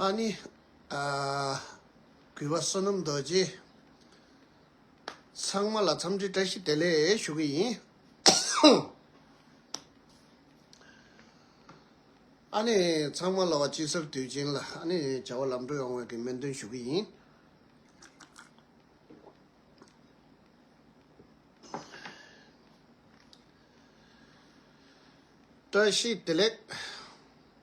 ལྷ་ནི། གུས་པ་བསོད་ནམས་རྡོ་རྗེ། ཚང་མ་ལ་འཚམས་འདྲི་བཀྲ་ཤིས་བདེ་ལེགས་ཞུ་གི་ཡིན། ཨ་ནི་ཚང་མ་ལ་བ་དཔྱིད་གསར་དུས་ཆེན་ལ་ཨ་ནི་བྱ་བ་ལམ་འགྲོ་ཡོང་བའི་གི་སྨོན་འདུན་ཞུ་གི་ཡིན། བཀྲ་ཤིས་བདེ་ལེགས།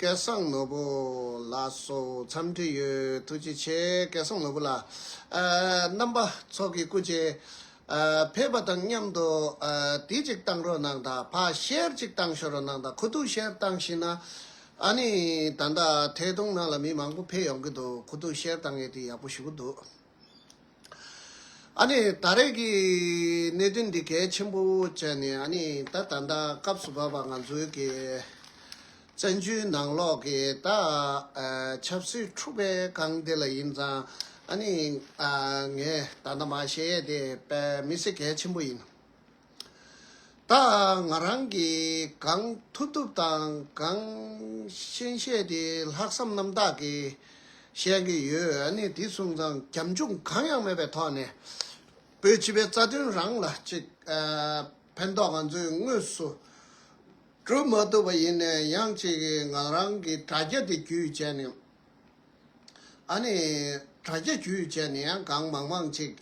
སྐལ་བཟང་ནོར་བུ་ལགས་སུ་འཚམས་འདྲི་ཡོད་ཐུགས་རྗེ་ཆེ་སྐལ་བཟང་ནོར་བུ་ལགས། རྣམ་པ་ཚོགས་ཀྱི་སྐུ་ཆེ། ཕེབས་པ་དང་མཉམ་དུ་དེ་ཅིག་བཏང་རོགས་གནང་དང་ཕ་ཤེར་ཅིག་བཏང་ཤོག་རོགས་གནང་དང་ཁུ་ཐུག་ཤེར་བཏང་ཤེས་ན་ཨ་ནི་ད་ལྟ་ཐད་གཏོང་ནང་ལ་མི་མང་པོ་ཕེབས་ཡོང་གི་འདུག་ཁུ་ཐུག་ཤེར་བཏང་ཡས་དེ་ཡག་པོ་ཞུ་གི་འདུག། ཨ་ནི་ད་རེས་ཀྱི་གནད་དོན་འདི་གལ་ཆེན་པོ་བྱས་ནས་ཨ་ནི་ད་ད་ལྟ་སྐབས་སུ་བབས་པ་ང་ཚོའི་གི་བཙན་བྱོལ་ནང་ལོག་གི་ད་ཆབ་སྲིད་འཁྲུག་པའི་སྒང་འདི་ལ་ཡིན་ཙང་ཨ་ནི་ངས་ད་ད་མ་བཤད་དེ་པས་མི་སེ་གལ་ཆེན་པོ་ཡིན། ད་ང་རང་གིས་གང་ཐུབ་ཐུབ་དང་གང་ཤེས་ཤེས་དེ་ལྷག་བསམ་རྣམ་དག་གིས་བཤད་ཀྱི་ཡོད་ཨ་ནི་དེ་གསུངས་ཙང་རྒྱབ་འཇུག་གང་ཡང་མེད་པའི་ཐོག་ནས་བོད་སྤྱི་པའི་རྩ་དོན་རང་ལ་ཅིག་ཕན་ཐོག་ང་ཚོས་དངོས་སུ་བསྒྲུབ་མ་ཐུབ་པ་ཡིན་ནས་ཡང་ཅིག་ང་རང་གིས་དྲ་རྒྱ་འདི་བརྒྱུད་བྱས་ནས། ཨ་ནི། དྲ་རྒྱ་བརྒྱུད་བྱས་ནས་ཡང་གང་མང་མང་ཅིག་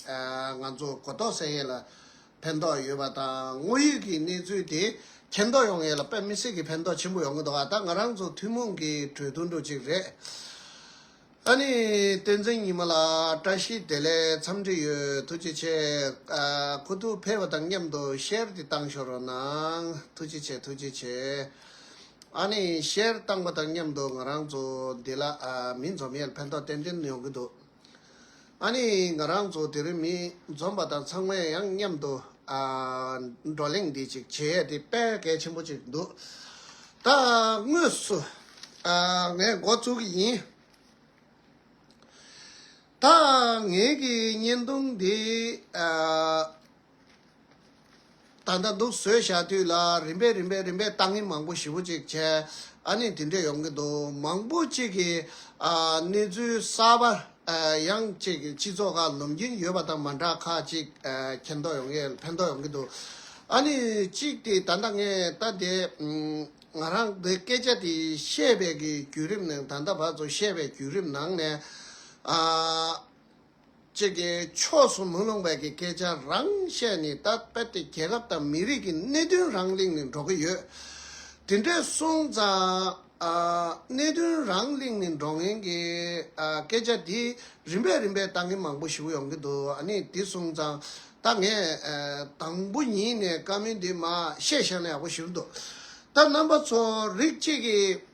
ང་ཚོ་གོ་རྟོགས་སད་ཡས་ལ་ཕན་ཐོགས་ཡོད་པ་དང་དངོས་ཡོད་ཀྱི་གནས་ཚུལ་དེ་མཁྱེན་རྟོགས་ཡོང་ཡས་ལ་དཔེ་མི་སྲིད་ཀྱི་ཕན་ཐོགས་ཆེན་པོ་ཡོང་གི་འདུག་ཨ་ད་ང་རང་ཚོ་ཐུན་མོང་གི་གྲོས་བསྡུར་འགྲོ་གཅིག་རེད། ཨ་ནི། བསྟན་འཛིན་ཉི་མ་ལགས་བཀྲ་ཤིས་བདེ་ལེགས་འཚམས་འདྲི་ཡོད་ཐུགས་རྗེ་ཆེ། ཁོ་ཐུགས་ཕེབས་པ་དང་མཉམ་དུ་ཤེར་དེ་བཏང་ཤོར་རོགས་གནང་ཐུགས་རྗེ་ཆེ་ཐུགས་རྗེ་ཆེ། ཨཱ་ནི་བཤད་བཏང་པ་དང་མཉམ་དུ་ང་རང་ཚོ་འདི་ལ་མི་འཛོམས་ཡས་ཕན་ཐོགས་ཏན་ཏན་ཡོང་གི་འདུག་ཨཱ་ནི་ང་རང་ཚོ་དེ་རིང་མི་འཛོམས་པ་དང་ཚང་མས་ཡང་མཉམ་དུ་བགྲོ་གླེང་འདི་ཅིག་བྱེད་ཡས་དེ་དཔལ་གལ་ཆེན་པོ་ཅིག་འདུག་ད་དངོས་སུ་ངས་འགོ་བཙུགས་ཀྱི་ཡིན། ད་ངེད་ཀྱི་བརྙན་ཐུང་འདི། ད་ལྟ་འདུག་བཟོད་བཞག་དུས་ལ་རིམ་པས་རིམ་པས་རིམ་པས་གཏམ་ངན་མང་པོ་ཞེ་བོ་ཅིག་བྱས་ཨ་ནི་དེ་འདྲས་ཡོང་གི་འདུག་མང་པོ་ཅིག་གིས་གནས་ཚུལ་གསར་པ་ཡང་ཅིག་སྤྱི་ཚོགས་ཁག་ལོམ་གྱིན་ཡོད་པ་དང་མ་འདྲ་ཁག་ཅིག་ཁྱེར་མདོག་ཡོང་གི་ཕན་ཐོགས་ཡོང་གི་འདུག་ཨ་ནི་གཅིག་དེ་ད་ལྟ་ངས་ལྟ་དེ་ང་རང་གི་སྐད་ཆ་དེ་བཤད་པའི་གི་བརྒྱུད་རིམ་ནང་ད་ལྟ་བར་དུ་བཤད་པའི་བརྒྱུད་རིམ་ནང་ནས་ཨ། ཅིག་གིས་ཕྱོགས་སུ་མི་ལྷུང་བའི་གི་སྐད་ཆ་རང་བཤད་ནས་ད་རྦད་དེ་རྒྱལ་ཁབ་དང་མི་རིགས་ཀྱི་གནད་དོན་རང་གླེང་ནས་འགྲོ་གི་ཡོད། དེ་འདྲས་སོང་ཙང་གནད་དོན་རང་གླེང་ནས་འགྲོ་མཁན་གྱི་སྐད་ཆ་དེ་རིམ་པས་རིམ་པས་ལྟ་མཁན་མང་པོ་ཞིག་ཡོང་གི་འདུག་ཨ་ནི་དེ་སོང་ཙང་ད་ངས་དང་པོ་ཉིད་ནས་བཀའ་མོལ་འདི་མ་བཤད་ཤག་ན་ཡག་པོ་ཞིག་རེད་འདུག་ད་རྣམ་པ་ཚོ་རིགས་གཅིག་གིས།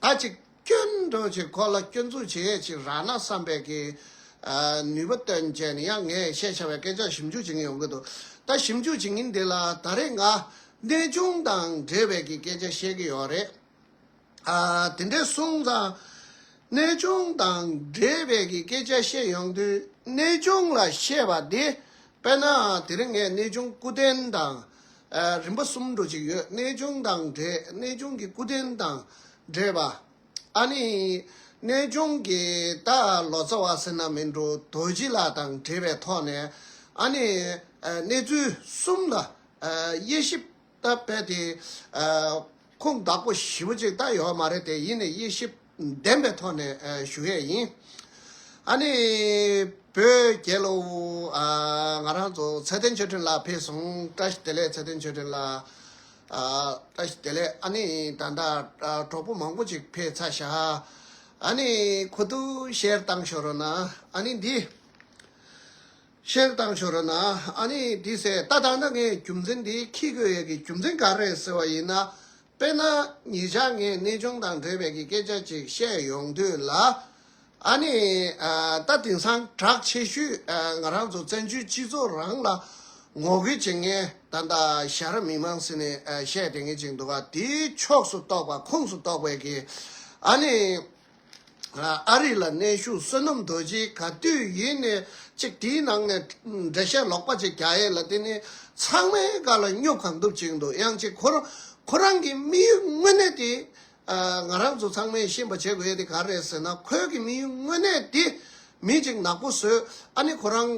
ད་ཅིག་སྐྱོན་བགྲོད་ཅིག་ཁོ་ལ་སྐྱོན་འཛུགས་བྱེད་ཡས་ཅིག་རག་ན་བསམ་པས་ཀྱི། ནུས་པ་སྟོན་བྱས་ནས་ཡང་ངས་བཤད་བྱ་བའི་སྐད་ཆ་ཞིབ་འཇུག་བྱེད་མཁན་ཡོང་གི་འདུག་ད་ཞིབ་འཇུག་བྱེད་མཁན་འདི་ལ་ད་རེས་ང་གནས་ཆུང་དང་འབྲེལ་བའི་ཀྱི་སྐད་ཆ་བཤད་ཀྱི་ཡོད་རེད། དེ་འདྲའི་སོང་ཙང། གནས་ཆུང་དང་འབྲེལ་བའི་ཀྱི་སྐད་ཆ་བཤད་ཡོང་དུས་གནས་ཆུང་ལ་བཤད་པ་དེ་དཔེར་ན་དེ་རིང་ངས་གནས་ཆུང་སྐུ་རྟེན་དང། རིམ་པ་གསུམ་འགྲོ་གཅིག་ཡོད་གནས་ཆུང་དང་འདྲེས་གནས་ཆུང་གི་སྐུ་རྟེན་དང་འདྲེས་པ། ཨ་ནི། གནས་ཆུང་གི་ད་ལོ་ཚ་བ་སེར་ནག་མི་འགྲོ་རྡོ་རྗེ་ལ་དང་འདྲེས་པའི་ཐོག་ནས་ཨ་ནི། གནས་ཚུལ་གསུམ་ལ་དབྱེ་ཞིབ་ད་བལྟ་དེ། ཁུངས་དག་པོ་ཞིབ་པོ་ཅིག་ད་ཡོད་མ་རེད་དེ་ཡིན་ནས་དབྱེ་ཞིབ། ལྡན་པའི་ཐོག་ནས་ཞུ་ཡས་ཡིན། ཨ་ནི། བོད་རྒྱལ་ལོ། ང་རང་ཚོ་ཚད་ལྡན་ཆོས་ཁྲིམས་ལགས་ཕེབས་སོང་བཀྲ་ཤིས་བདེ་ལེགས་ཚད་ལྡན་ཆོས་ཁྲིམས་ལགས། བཀྲ་ཤིས་བདེ་ལེགས་ཨ་ནི་ད་ལྟ་གྲོགས་པོ་མང་པོ་ཅིག་ཕེབས་ཚར་ཤག་ཨ་ནི་ཁོ་ཐུ་བཤེར་བཏང་ཤོར་རོ་ན་ཨ་ནི་འདི། བཤེར་བཏང་ཤོར་རོ་ན་ཨ་ནི་འདི་ཟེར་ད་ད་ནངས་རྒྱུ་མཚན་འདི་ཁྱི་གོས་ཡས་ཀྱི་རྒྱུ་མཚན་ག་རེད་ཟེར་བ་ཡིན་ན་དཔེར་ན་ཉིད་ཅག་ངས་གནས་ཆུང་དང་འབྲེལ་བའི་གི་སྐད་ཆ་ཅིག་བཤད་ཡོང་དུས་ལ། ཨ་ནི། ད་དེང་སང་གྲགས་ཆེ་ཤོས་ང་རང་ཚོ་བཙན་བྱོལ་སྤྱི་ཚོགས་རང་ལ་ངོ་རྒོལ་བྱེད་མཁན་ད་ལྟ་ཞྭ་ར་མི་མང་ཟེར་ནས་བཤད་དེ་ངན་ཅིག་འདུག་ག་དེའི་ཕྱོགས་སུ་གཏོགས་པ་ཁུངས་སུ་གཏོགས་པའི་གི་ཨ་ནི། ཨ་རི་ལ་གནས་བཞུགས་བསོད་ནམས་རྡོ་རྗེའི་ག་དུས་ཡིན་ནས་ཅིག་དེའི་ནང་ནས་འགྲེལ་བཤད་ལོག་པ་ཅིག་རྒྱ་ཡེ་ལ་དེ་ནི་ཚང་མའི་ག་ལ་སྙུག་ག་འདུག་ཅིག་འདུག་ཡང་ཅིག་ཁོ་རང་ཁོ་རང་གི་དམིགས་ཡུལ་དངོས་གནས་དེ་ང་རང་ཚོ་ཚང་མས་ཤེས་པ་བྱེད་དགོས་དེ་ག་རེད་ཟེར་ན་ཁོའི་གི་དམིགས་ཡུལ་དངོས་གནས་དེ་མི་ཅིག་ནག་པོ་བཟོས་ཨ་ནི་ཁོ་རང་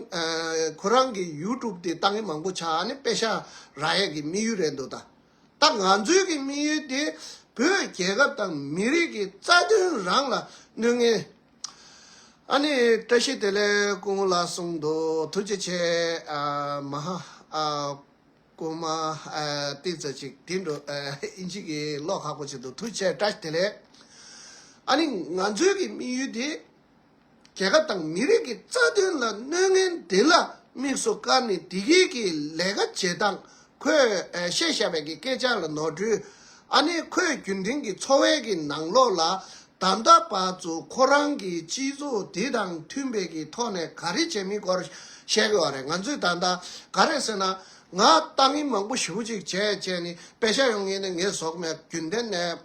ཁོ་རང་གི་ཡུ་ཀྲུབ་དེ་བཏང་གི་མང་པོ་ཆགས་ཨ་ནི་པེ་ཤ་ར་ཡེ་གི་དམིགས་ཡུལ་རེད་འདུག་ད། ད་ང་ཚོའི་གི་དམིགས་ཡུལ་དེ་བོད་རྒྱལ་ཁབ་དང་མི་རིགས་ཀྱི་རྩ་དོན་རང་ལ་གནོད་ངན། ཨ་ནི་བཀྲ་ཤིས་བདེ་ལེགས་སྐུ་ངོ་ལགས་གསུངས་འདུག་ཐུགས་རྗེ་ཆེ། མ་ཧ། སྐུ་མ། ཏིག་ཙ་ཅིག་དེ་འགྲོ། ཨིན་ཇི་གི་ཀློག་ཁག་པོ་བྱེད་འདུག་ཐུགས་ཆེ་བཀྲ་ཤིས་བདེ་ལེགས། ཨ་ནི་ང་ཚོའི་གི་དམིགས་ཡུལ་དེ་རྒྱལ་ཁབ་དང་མི་རིགས་ཀྱི་རྩ་དོན་ལ་གནོད་ངན་འདི་ལ་དམིགས་སུ་བཀར་ནས་བདེ་སྐྱིད་ཀྱི་ལས་ཀ་བྱེད་སྟངས་ཁོས་བཤད་བཞག་པའི་སྐད་ཆ་ལ་ནོར་འཁྲུལ་ཨ་ནེ་ཁོས་རྒྱུན་ལྡན་གྱི་འཚོ་བའི་གི་ནང་ལོགས་ལ་ད་ལྟ་བར་དུ་ཁོ་རང་གི་སྤྱི་ཚོགས་དེ་དང་མཐུན་པའི་གི་ཐོག་ནས་ག་རེ་བྱས་མིན་སྐོར་བཤད་དགོས་བ་རེད་ང་ཚོས་ད་ལྟ་ག་རེ་ཟེར་ན་ང་ལྟ་ངན་མང་པོ་ཞིབ་པོ་ཅིག་བྱས་བྱས་ནས་དཔེ་ཆ་ཡོང་ངེས་ནས་ངས་ཟོག་མེད་རྒྱུན་ལྡན་ནས།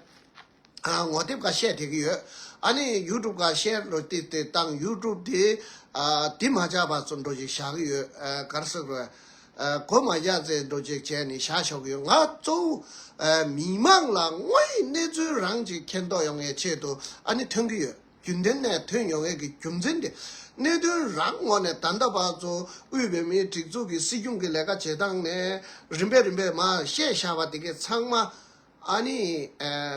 ངོ་དེབ་འགའ་བཤད་བསྡད་ཀྱི་ཡོད། ཨ་ནི་ཡུ་ཀྲུབ་འགའ་བཤད་འགྲོ་བསྡད་དེ་བཏང་ཡུ་ཀྲུབ་དེ་དེ་མ་བཞག་པར་ཚུར་འགྲོ་བཞིན་བཞག་གི་ཡོད། གར་སོང་རེད། གོ་མ་བཞག་ཚེ་འགྲོ་བྱེད་བྱས་ནས་བཞག་ཆོག་གི་ཡོད། ང་གཙོ་བོ་མི་མང་ལ་དངོས་ཡིད་གནས་ཚུལ་རང་གཅིག་མཁྱེན་རྟོགས་ཡོང་བའི་ཆེད་དུ་ཨ་ནི་ཐོན་གྱི་ཡོད། རྒྱུན་ལྡན་ནས་ཐོན་ཡོང་བའི་གི་རྒྱུ་མཚན་དེ། གནད་དོན་རང་ངོ་ནས་ད་ལྟ་བར་གཙོ་བོ་བོད་མིའི་སྒྲིག་འཛུགས་ཀྱི་སྲིད་སྐྱོང་གི་ལས་ཀ་བྱེད་སྟངས་ནས་རིམ་པས་རིམ་པས་མ་བཤད་བཞག་པ་དེ་གས་ཚང་མ་ཨ་ནི།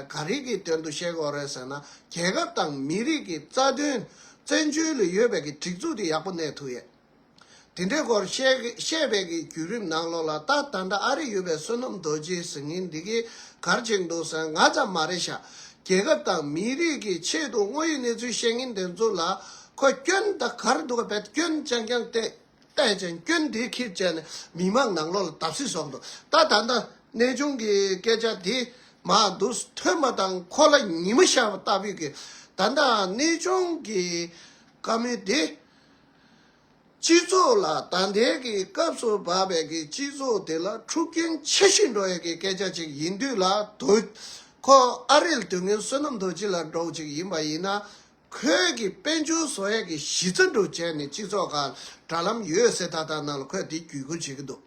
ག་རིགས་ཀྱི་དོན་དུ་བཤད་དགོས་རེད་ཟེར་ན་རྒྱལ་ཁབ་དང་མི་རིགས་ཀྱི་རྩ་དོན། བཙན་བྱོལ་ལ་ཡོད་པའི་གི་སྒྲིག་འཛུགས་དེ་ཡག་པོ་གནས་ཐུབ་ཡོད། དེ་འདྲའི་སྐོར་བཤད་བའི་གི་བརྒྱུད་རིམ་ནང་ལོགས་ལ་ད་ད་འདྲ་ཨ་རིག་ཡོད་པའི་བསོད་ནམས་རྡོ་རྗེའི་གཟིགས་ངན་འདི་གི་གར་བྱེད་འདུག་ཟེར་ང་ཙམ་མ་རེད་ཤག་རྒྱལ་ཁབ་དང་མི་རིགས་ཀྱི་ཆེད་དུ་དངོས་ཡོད་གནས་ཚུལ་བཤད་མཁན་དེ་ཚོ་ལ་ཁོ་སྐྱོན་ད་གར་འདུག་ག་བད་སྐྱོན་རྐྱང་རྐྱང་བལྟས། བལྟས་ཅན་སྐྱོན་དེ་ཁས་བཅད་ནས་མི་དམངས་ནང་ལོག་ལ་བརྡབ་གསིག་བཟོ་འདུག་ད་ད་ནངས་གནས་ཆུང་གི་སྐད་ཆ་དེ་མ་འདུག་ཐོས་མ་དང་ཁོ་ལ་ཉི་མ་ཤར་བ་ལྟ་བུས་གི་ད་ད་གནས་ཆུང་གི་བཀའ་མོལ་དེ། སྤྱི་ཚོགས་ལ་ད་ལྟའི་གི་སྐབས་སུ་བབས་པའི་གི་སྤྱི་ཚོགས་དེ་ལ་འཁྲུག་རྐྱེན་ཆེ་ཞིང་འགྲོ་བའི་གི་སྐད་ཆ་ཅིག་ཡིན་དུས་ལ་དུས་ཁོ་ཨ་རིལ་དུས་ངན་བསོད་ནམས་རྡོ་རྗེ་ལ་འགྲོགས་ཅིག་ཡིན་པ་ཡིན་ན་ཁོས་གིས་དཔལ་འབྱོར་བཟོ་ཡག་གི་གཞི་རྩ་འགྲུབ་བྱས་ནས་སྤྱི་ཚོགས་ཁག་དྲ་ལམ་ཡོད་སའི་ཐ་ཐག་ནང་ལ་ཁོས་དེ་བརྒྱུད་སྐུར་བྱེད་ཀྱི་འདུག་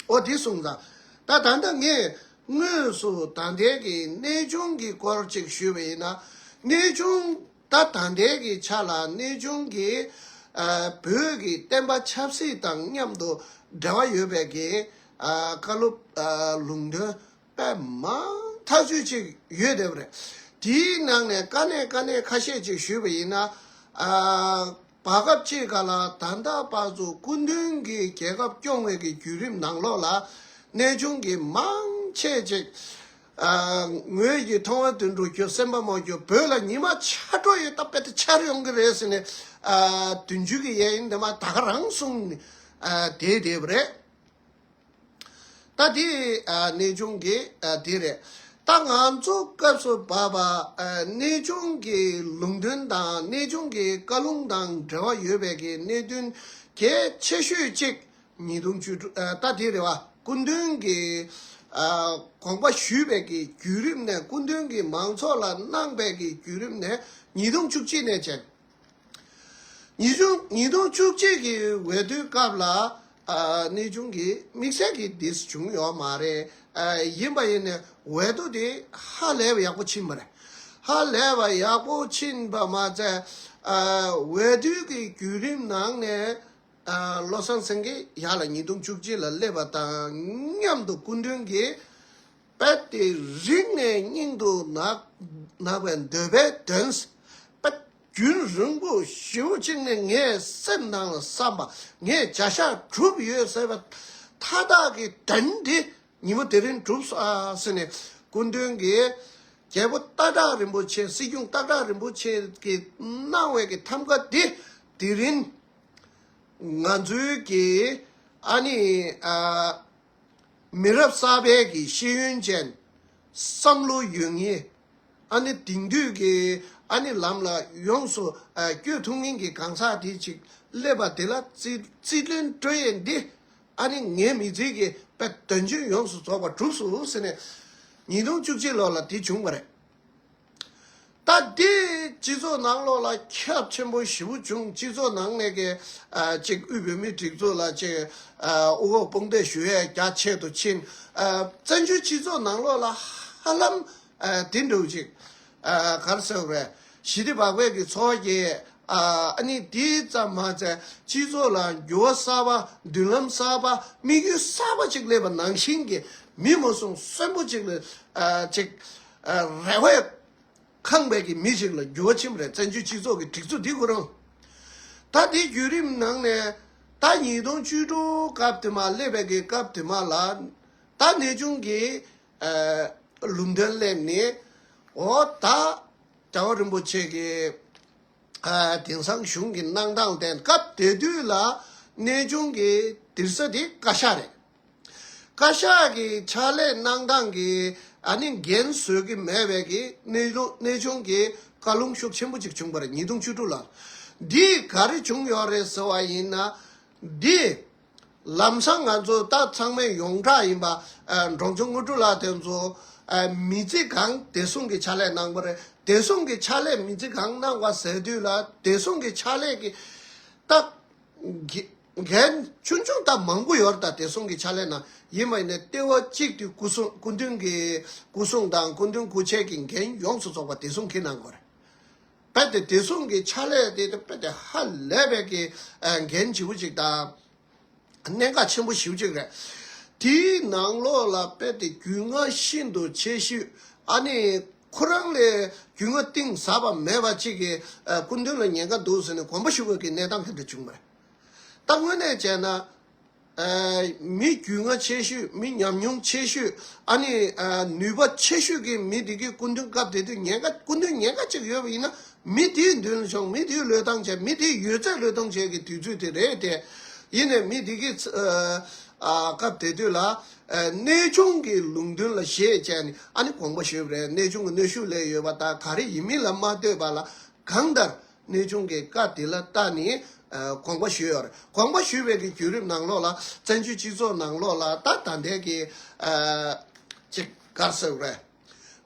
འོ་དེ་གསུངས་ཙང་ད་ད་ལྟ་ངས་དངོས་སུ་ད་ལྟའི་གི་གནས་ཆུང་གི་སྐོར་ཅིག་ཞུས་པ་ཡིན་ན། གནས་ཆུང་ད་ད་ལྟའི་གི་ཆ་ལ་གནས་ཆུང་གི་བོད་ཀྱི་བསྟན་པ་ཆབ་སྲིད་དང་མཉམ་དུ་འབྲེལ་བ་ཡོད་པའི་གི་བཀའ་སློབ་ལུང་དོན་པའི་མང་ཐག་ཆོད་ཅིག་ཡོད་བསྡད་པ་རེད། དེའི་ནང་ནས་དཀའ་གནད་དཀའ་གནད་ཁ་ཤས་ཅིག་ཞུས་པ་ཡིན་ན། བར་སྐབས་གཅིག་ག་ལ་ད་ལྟ་བར་དུ་སྐུ་མདུན་གྱིས་རྒྱལ་ཁབ་སྐྱོང་བའི་གྱི་བརྒྱུད་རིམ་ནང་ལོགས་ལ་གནས་ཆུང་གི་མང་ཆེ་ཅིག་ངོས་ཀྱི་མཐོང་བ་དུད་འགྲོ་ཁྱོད་སེམས་པ་མང་ཁྱོད་བོད་ལ་ཉི་མ་ཆ་དྲོ་ཡོད་སྟབས་དཔེ་དེ་འཆར་ཡོང་གི་རེད་ཟེར་ནས་དུས་མཇུག་གི་ཡས་ཡིན་དེ་མ་ད་ག་རང་གསུངས་ནས་བསྡད་བསྡད་པ་རེད། ད་དེ་གནས་ཆུང་གི་དེ་རེད། ད་ང་ཚོ་སྐབས་སུ་བབས་པ་གནས་ཆུང་གི་ལུང་དོན་དང་གནས་ཆུང་གི་བཀའ་ལུང་དང་འབྲེལ་བ་ཡོད་པའི་གི་གནད་དོན་གལ་ཆེ་ཤོས་གཅིག་ཉིས་སྟོང་བཅུ་དྲུག་ད་དེ་རེད་བ་སྐུ་མདུན་གྱི་དགོངས་པ་ཞུས་པའི་གི་བརྒྱུད་རིམ་ནས་སྐུ་མདུན་གྱི་མང་ཚོགས་ལ་གནང་པའི་གི་བརྒྱུད་རིམ་ནས་ཉིས་སྟོང་བཅུ་གཅིག་ནས་བྱས། ཉིས་སྟོང་བཅུ་གཅིག་གི་འོས་བསྡུའི་སྐབས་ལ་གནས་ཆུང་གི་དམིགས་བསལ་གྱི་དེ་བྱུང་ཡོད་མ་རེད། ཡིན་པ་ཡིན་ནས་འོས་བསྡུ་དེ་ཧ་ལས་པ་ཡག་པོ་ཕྱིན་པ་རེད། ཧ་ལས་པ་ཡག་པོ་ཕྱིན་པ་མ་ཚད་འོས་བསྡུ་གི་བརྒྱུད་རིམ་ནང་ནས་བློ་བཟང་སེང་གེ་ཡག་ལ་ཉིས་སྟོང་བཅུ་གཅིག་ལ་སླེབས་པ་དང་མཉམ་དུ་སྐུ་མདུན་གྱི་དཔལ་ཏེ་རིགས་ལྔའི་སྙིང་དུ་བརྣག་པའི་འདོད་པའི་དོན། དཔལ་རྒྱུན་རིང་པོ་བཞི་བོ་གཅིག་ནི་ངའི་སེམས་ནང་ལ་བསམ་པ་ངས་བྱ་བཞག་གྲུབ་ཡོད་ཟེར་བ་མཐའ་དག་གི་དོན་དེ་ཉིན་མོ་དེ་རིང་གྲུབ་ཟེར་ནས་སྐུ་མདུན་གྱི་རྒྱལ་པོ་སྟག་བྲག་རིན་པོ་ཆེ་སྲིད་སྐྱོང་སྟག་བྲག་རིན་པོ་ཆེ་གི་གནང་བའི་གི་ཐམ་ག་དེ་དེ་རིང་ང་ཚོའི་གི་ཨ་ནི། མི་རབས་གསར་པའི་གི་ཤེས་ཡོན་ཅན། བསམ་བློ་ཡོད་ངེས་ཨ་ནི་དེང་དུས་ཀྱི་ཨ་ནི་ལམ་ལ་ཡོངས་སུ་བསྐྱོད་ཐུབ་མིན་གྱི་གང་ཟག་དེ་ཅིག་སླེབས་པ་དེ་ལ་རྩིས་ལེན་སྤྲོད་ཡས་འདི་ཨ་ནི་ངའི་མི་ཚེ་གི་དཔེ་དོན་ཅུང་ཡོངས་སུ་རྫོགས་པ་གྲུབ་སུ་ཟེར་ནས་ཉིས་སྟོང་བཅུ་གཅིག་ལོ་ལ་དེ་བྱུང་བ་རེད། སྟབས་བདེའི་སྤྱི་ཚོགས་ནང་བློ་ལ་ཁྱབ་ཆེན་པོ་བཞི་བོ་བྱུང་སྤྱི་ཚོགས་ནང་ནས་གལ་ཆེ་དབུས་བོད་མིའི་སྒྲིག་འཛུགས་ལ་ཆེ་དབུ་འོག་དཔུང་འདེགས་ཞུ་ཡས་རྒྱ་ཆེ་དུ་ཕྱིན། བཙན་བྱོལ་སྤྱི་ཚོགས་ནང་བློ་ལ་ཧ་ལམ་དེ་འགྲུབ་ཅིག། གར་སོས་པས་ཞི་བདེ་བག་ཕེབས་ཀྱི་འཚོ་བ་སྐྱེལ་ཡས་ཨ་ནི་དེ་ཙམ་མ་ཟད་སྤྱི་ཚོགས་ལ་འགྱུར་བ་གསར་པ་མདུན་ལམ་གསར་པ་དམིགས་ཡུལ་གསར་པ་ཅིག་སླེབས་པ་ནང་བཞིན་གྱི་མི་མོ་གསུང་གསོན་པོ་ཅིག་ལ་ཅིག། རེ་བས། ཁང་པའི་གི་མི་ཞིག་ལ་རྒྱུ་བ་ཁྱིམ་རེ་བཙན་བྱོལ་སྤྱི་ཚོགས་ཀྱི་སྒྲིག་འཛུགས་འདི་ཁོ་རང། ད་ལྟའི་བརྒྱུད་རིམ་ནང་ནས། ད་ཉིས་སྟོང་བཅུ་དྲུག་སྐབས་དེ་མ་སླེབས་པའི་གི་སྐབས་དེ་མ་ལ། ད་གནས་ཆུང་གི། ལུགས་མཐུན་སླེབས་ནི། འོ་ད། དགྲ་བོ་རིན་པོ་ཆེ་གི། དེང་སང་གཞུང་གི་གནང་སྟངས་བསྟན་སྐབས་དེ་དུས་ལ། གནས་ཆུང་གི་དིར་ས་དེ་བཀའ་ཤག་རེད། བཀའ་ཤག་གི་ཕྱག་ལས་གནང་སྟངས་ཀྱི་ཨ་ནི་འགན་བཟོད་ཀྱི་མེད་པའི་གི་གནས་ཆུང་གི་བཀའ་ལུང་ཤུགས་ཆེན་པོ་ཅིག་བྱུང་པར་ཉིས་སྟོང་བཅུ་དྲུག་ལག་འདིས་ག་རེ་བྱུང་ཡོད་རེད་ཟེར་བ་ཡིན་ན། འདི་ལམ་སང་ང་ཚོ་ད་ཚང་མས་ཡོངས་གྲགས་ཡིན་པ་འབྲོང་ཆུང་དངོས་གྲུབ་ལགས་དེ་ཚོ་མི་རྩིས་གང་བདེ་སྲུང་གི་ཕྱག་ལས་གནང་པ་རེད་བདེ་སྲུང་གི་ཕྱག་ལས་མི་རྩིས་གང་གནང་བ་ཟེར་དུས་ལ་བདེ་སྲུང་གི་ཕྱག་ལས་ཀྱི་རྟགས་འགལ། ཆུང་ཆུང་དག་མང་པོ་ཡོར་དང་དེ་སོང་གི་ཆ་ལས་ན་ཡིད་མ་ཡིན་ནས་ལྟེ་བ་གཅིག་ཏུ་སྐུ་གསུང་སྐུ་མདུན་གྱི་སྐུ་གསུང་དང་སྐུ་མདུན་སྐུ་ཆས་ཀྱི་འགན་ཡོངས་སུ་རྫོགས་པ་དེ་སོང་གི་ན་འགོར། དཔལ་ཏེ་དེ་སོང་གི་ཆ་ལས་ཏེ་དཔལ་ཏེ་ཧ་ལས་དཔལ་གྱི་འགན་བྱེད་པོ་ཅིག་དང། གནད་འགག་ཆེན་པོ་བཞི་བཅུ་རེ། དེའི་ནང་ལོགས་ལ་དཔལ་ཏེ་རྒྱུས་མངའ་ཤིན་ཏུ་ཆེ་ཤོས་ཨ་ནི་ཁོ་རང་ལས་རྒྱུས་མངའ་གཏིང་ཟབ་པ་མེད་པ་ཅིག་གིས་སྐུ་མདུན་ལ་ཉེན་ཁ་འདུག་ཟེར་ནས་གོམ་པ་ཞུ་དགོས་ཀྱི་གནས་སྟངས་དེ་འདྲ་བྱུང་བ་རེད། ད་དངོས་གནས་བྱས་ན། མི་རྒྱུས་མངའ་ཆེ་ཤོས་མི་ཉམས་མྱོང་ཆེ་ཤོས་ཨ་ནི་ནུས་པ་ཆེ་ཤོས་ཀྱི་མི་དེ་གའི་སྐུ་མདུན་སྐབས་དེ་དུས་ཉེན་ཁ་སྐུ་མདུན་ཉེན་ཁ་ཅིག་ཡོད་པ་ཡིན་ན་མི་དེའི་མདུན་ལ་ཆོངས་མི་དེའི་བློས་བཏང་བྱས་མི་དེའི་ཡོད་ཚད་བློས་གཏོང་བྱས་ཀྱི་དུས་ཚོད་དེ་རེད་དེ། ཡིན་ནས་མི་དེ་གའི་སྐབས་དེ་དུས་ལ། གནས་ཆུང་གི་ལུང་མདུན་ལ་བཞེས་བྱས་ནས་ཨ་ནི་དགོངས་པ་ཞུས་པ་རེད་གནས་ཆུང་གི་གནོད་ཤུགས་ལས་ཡོད་པ་དག་ག་རེ་ཡིན་མིན་ལ་མ་ལྟོས་པ་ལ། གང་ལྟར་གནོད་ཆུང་གི་བཀའ་དེ་ལ་བརྟགས་ནས་དགོངས་པ་ཞུས། དགོངས་པ་ཞུས་པའི་བརྒྱུད་རིམ་ནང་ལོགས་ལ་བཙན་བྱོལ་སྤྱི་ཚོགས་ནང་ལོགས་ལ་ད་ད་འད་ཀྱི་ཅིག་གར་སོགས་རེད།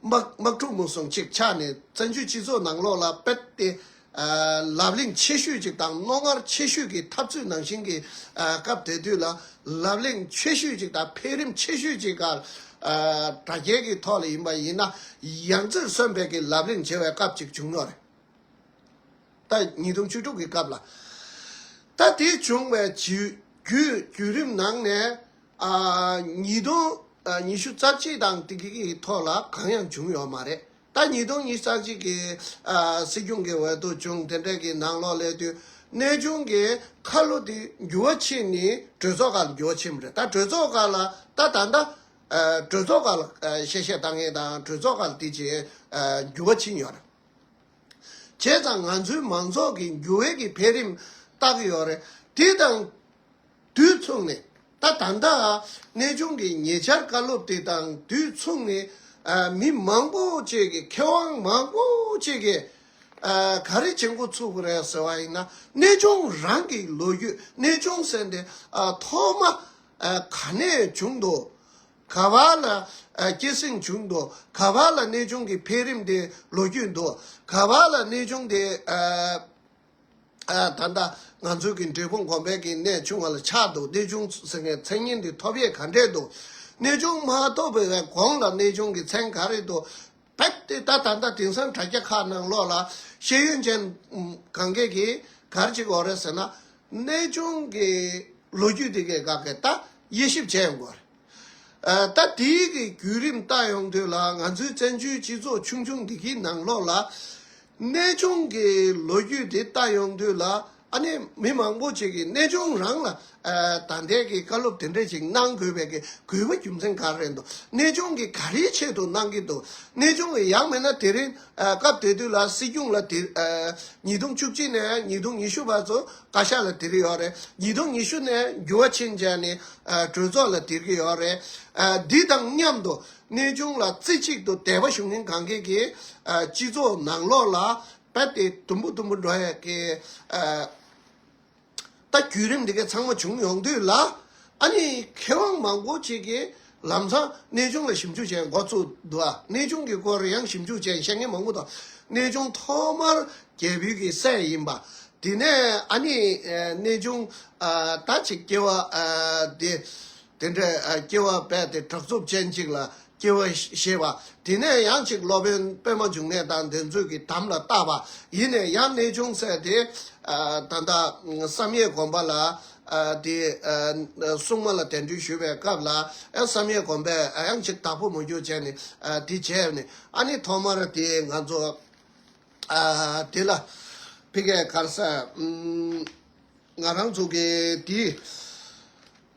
དམག་འཁྲུག་མུན་སོང་ཅིག་ཆགས་ནས་བཙན་བྱོལ་སྤྱི་ཚོགས་ནང་ལོགས་ལ་དཔེར་ཏེ་ལབ་གླེང་ཆེ་ཤོས་ཅིག་དང་རྣོ་ངར་ཆེ་ཤོས་ཀྱི་འཐབ་རྩོད་ནང་བཞིན་གྱི་སྐབས་དེ་དུས་ལ་ལབ་གླེང་ཆེ་ཤོས་ཅིག་དང་འཕེལ་རིམ་ཆེ་ཤོས་ཅིག་གར་དྲ་རྒྱའི་གི་ཐོག་ལ་ཡིན་པ་ཡིན་ན་ཡང་རྩེར་སོན་འད་ཀྱི་ལབ་གླེང་བྱེད་པའི་སྐབས་ཅིག་བྱུང་ཡོད་རེད། ད་ཉིས་སྟོང་བཅུ་དྲུག་གི་སྐབས་ལ། ད་དེ་བྱུང་བའི་བརྒྱུད་རིམ་ནང་ནས། ཉིས་སྟོང་ཉི་ཤུ་རྩ་གཅིག་དང་དེ་གི་ཐོག་ལ་གང་ཡང་བྱུང་ཡོད་མ་རེད། ད་ཉིས་སྟོང་ཉིས་རྩ་གཅིག་གི་སྲིད་སྐྱོང་གི་འོས་ཐོབ་བྱུང་དེ་འབྲེལ་གྱི་ནང་ལོག་སླེབས་དུས་གནས་ཆུང་གི་ཁ་ལོ་དེ་འགྱུར་བ་ཕྱིན་ནས་གྲོས་ཚོགས་ཁག་ལ་འགྱུར་བ་ཕྱིན་པ་རེད་ད་གྲོས་ཚོགས་ཁག་ལ་ད་ད་ལྟ་གྲོས་ཚོགས་ཁག་ལ་བཤད་བཤད་བཏང་མཁན་དང་གྲོས་ཚོགས་ཁག་ལ་དེ་བྱས་འགྱུར་བ་ཕྱིན་ཡོད་རེད། བྱས་ཙང་ང་ཚོའི་མང་ཚོགས་ཀྱི་འགྱུར་བས་ཀྱི་འཕེལ་རིམ་བརྟག་ཡོད་རེད། དེ་དང་དུས་མཚུངས་ནས་ད་ད་ལྟ་གནས་ཆུང་གི་ཉེ་ཆར་བཀའ་སློབ་དེ་དང་དུས་མཚུངས་ནས་མི་མང་པོ་བཅས་ཀྱི་མཁས་དབང་མང་པོ་བཅས་ཀྱི་ག་རེ་བྱེད་འགོ་ཚུགས་རེད་ཟེར་བ་ཡིན་ན་གནས་ཆུང་རང་གི་ལོ་རྒྱུས་གནས་ཆུང་ཟེར་འདི་ཐོག་མ་ག་ནས་བྱུང་འདུག་ག་བ་ལ་སྐྱེད་སྲིང་བྱུང་འདུག་ག་བ་ལ་གནས་ཆུང་གི་འཕེལ་རིམ་དེ་ལོ་རྒྱུས་འདུག་ག་བ་ལ་གནས་ཆུང་དེ། ད་ལྟ་ང་ཚོའི་གི་འབྲས་སྤུངས་གོང་འཕེལ་གྱི་གནས་ཆུང་བ་ལ་ཆགས་འདུག་གནས་ཆུང་ཟེར་མཁན་མཚན་སྙན་དེ་ཐོབ་ཡས་ག་འདྲས་འདུག་གནས་ཆུང་མ་ཐོབ་པའི་གོང་ལ་གནས་ཆུང་གི་མཚན་ག་རེ་འདུག་རྦད་དེ་ད་ད་ལྟ་དེང་སང་དྲ་རྒྱ་ཁག་ནང་ལོགས་ལ་ཤེས་ཡོན་ཅན་གང་གཱས་གིས་གར་གཅིག་འོག་རེད་ཟེར་ན། གནས་ཆུང་གི་ལོ་རྒྱུས་དེ་གའི་ག་གེ་ད་དབྱེ་ཞིབ་བྱས་ཡོང་དགོས་རེད། ད་དེའི་གི་བརྒྱུད་རིམ་ལྟ་ཡོང་དུས་ལ་ང་ཚོའི་བཙན་བྱོལ་སྤྱི་ཚོགས་ཆུང་ཆུང་འདི་གི་ནང་ལོགས་ལ། གནས་ཆུང་གི་ལོ་རྒྱུས་དེ་ལྟ་ཡོང་དུས་ལ། ཨ་ནི་མི་མང་པོ་ཅིག་གིས་གནས་ཆུང་རང་ལ་ད་ལྟའི་གི་བཀའ་སློབ་དེ་འདྲས་ཅིག་གནང་དགོས་པའི་གི་གུས་པ་རྒྱུ་མཚན་ག་རེད་འདུག་གནས་ཆུང་གིས་ག་རེའི་ཆེད་དུ་གནང་གི་འདུག་གནས་ཆུང་གིས་ཡག་མེད་ན་དེ་རིང་སྐབས་དེ་དུས་ལ་སྲིད་སྐྱོང་ལ་དེ་ཉིས་སྟོང་བཅུ་གཅིག་ནས་ཉིས་སྟོང་ཉི་ཤུ་བར་ཚོ་བཀའ་ཤག་ལ་དེར་ཡོད་རེད་ཉིས་སྟོང་ཉི་ཤུ་ནས་འགྱུར་བ་ཕྱིན་རྗེས་ནི་གྲོས་ཚོགས་ལ་དེར་གི་ཡོད་རེད་འདི་དང་མཉམ་དུ་གནས་ཆུང་ལ་རྩེ་གཅིག་ཏུ་དད་པ་ཞུ་མཁན་གང་གིས་གི་སྤྱི་ཚོགས་ནང་ལོགས་ལ་ད་དེ་དུམ་བུ་དུམ་བུ་འགྲོ་ཡག་གི། ད་བརྒྱུད་རིམ་འདི་གའི་ཚང་མ་བྱུང་ཡོང་དུས་ལ། ཨ་ནི་མཁས་དབང་མང་པོ་ཅིག་གིས་ལམ་སང་གནས་ཆུང་ལ་ཞིབ་འཇུག་བྱས་མགོ་བཙུགས་འདུག་གནས་ཆུང་གི་སྐོར་ཡང་ཞིབ་འཇུག་བྱས་བཤད་མཁན་མང་པོ་དང། གནས་ཆུང་ཐོག་མར་རྒྱལ་བུས་ཀྱི་སྲས་ཡིན་པ། དེ་ནས་ཨ་ནི་གནས་ཆུང་ད་ཆེ་སྐྱེ་བ་འདི། དེ་འདྲའི་སྐྱེ་བ་བས་ཏེ་དྲག་རྩུབ་ཅན་གཅིག་ལ་སྐྱེ་བ་ཤེས་པ། དེ་ནས་ཡང་གཅིག་སློབ་དཔོན་པད་མ་འབྱུང་གནས་དང་ལྡན་ཚུལ་གྱིས་དམ་ལ་བཏགས་པ་ཡིན་ནས་ཡང་གནས་ཅུང་ཟད་དེ། ད་ལྟ་བསམ་ཡས་དགོན་པ་ལ་དེ་སྲུང་མ་ལ་དད་འདུན་ཞུ་བའི་སྐབས་ལ་ཡང་བསམ་ཡས་དགོན་པས་ཡང་གཅིག་དྭགས་པོ་མོ་རྒྱུག་བྱས་ནས་དེ་བྱས་པ་ནི་ཨ་ནི་ཐོག་མར་དེ་ང་ཚོ་དེ་ལ་ཕི་གས་གར་ས་ང་རང་ཚུགས་ཀྱི་དེའི།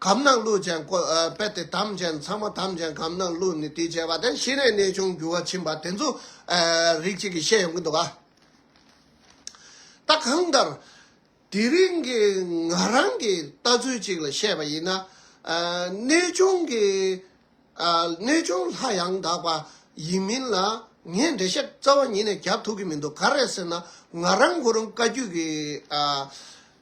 གམ་ནང་བླུག་ཅན་བཀོད་པས་དེ་ཐམས་ཅད་ཚང་མ་ཐམས་ཅད་གམ་ནང་བླུག་ནས་དུས་བྱས་པ་དེ་ཤི་ནས་གནས་ཆུང་འགྱུར་བ་ཕྱིན་པ་དེ་ཚོ་རིགས་གཅིག་གིས་ཤེས་ཡོང་གི་འདུག་ག་ད་གང་ལྟར་དེ་རིང་གི་ང་རང་གི་ལྟ་ཚུལ་གཅིག་ལ་བཤད་པ་ཡིན་ན། གནས་ཆུང་གི་གནས་ཆུང་ལྷ་ཡང་དག་པ་ཡིན་མིན་ལ་ངས་འགྲེལ་བཤད་རྩ་བ་ཉིད་ནས་རྒྱབ་ཐུག་གི་མི་འདུག་ག་རེད་ཟེར་ན་ང་རང་ཁོ་རང་བཀའ་བརྒྱུད་ཀྱི་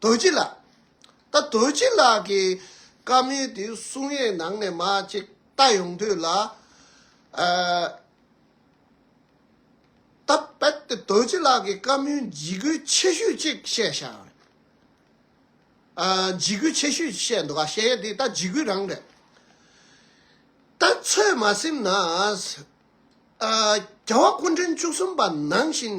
དོལ་སྐྱིད་ལགས། ད་དོལ་སྐྱིད་ལགས་ཀྱི་བཀའ་མོལ་དེའི་གསུང་ཡས་ནང་ནས་མ་ཅིག་ལྟ་ཡོང་དུས་ལ། ད་རྦད་དེ་དོལ་སྐྱིད་ལགས་ཀྱི་བཀའ་མོལ་འཇིགས་སྐུལ་ཆེ་ཤོས་གཅིག་བཤད་ཤག་རེད། འཇིགས་སྐུལ་ཆེ་ཤོས་བཤད་འདུག་ག་བཤད་ཡས་དེ་ད་འཇིགས་སྐུལ་རང་རེད། ད་ཚོད་མ་སེམས་ན། རྒྱལ་བ་སྐུ་འཕྲེང་བཅུ་གསུམ་པ་ནང་བཞིན།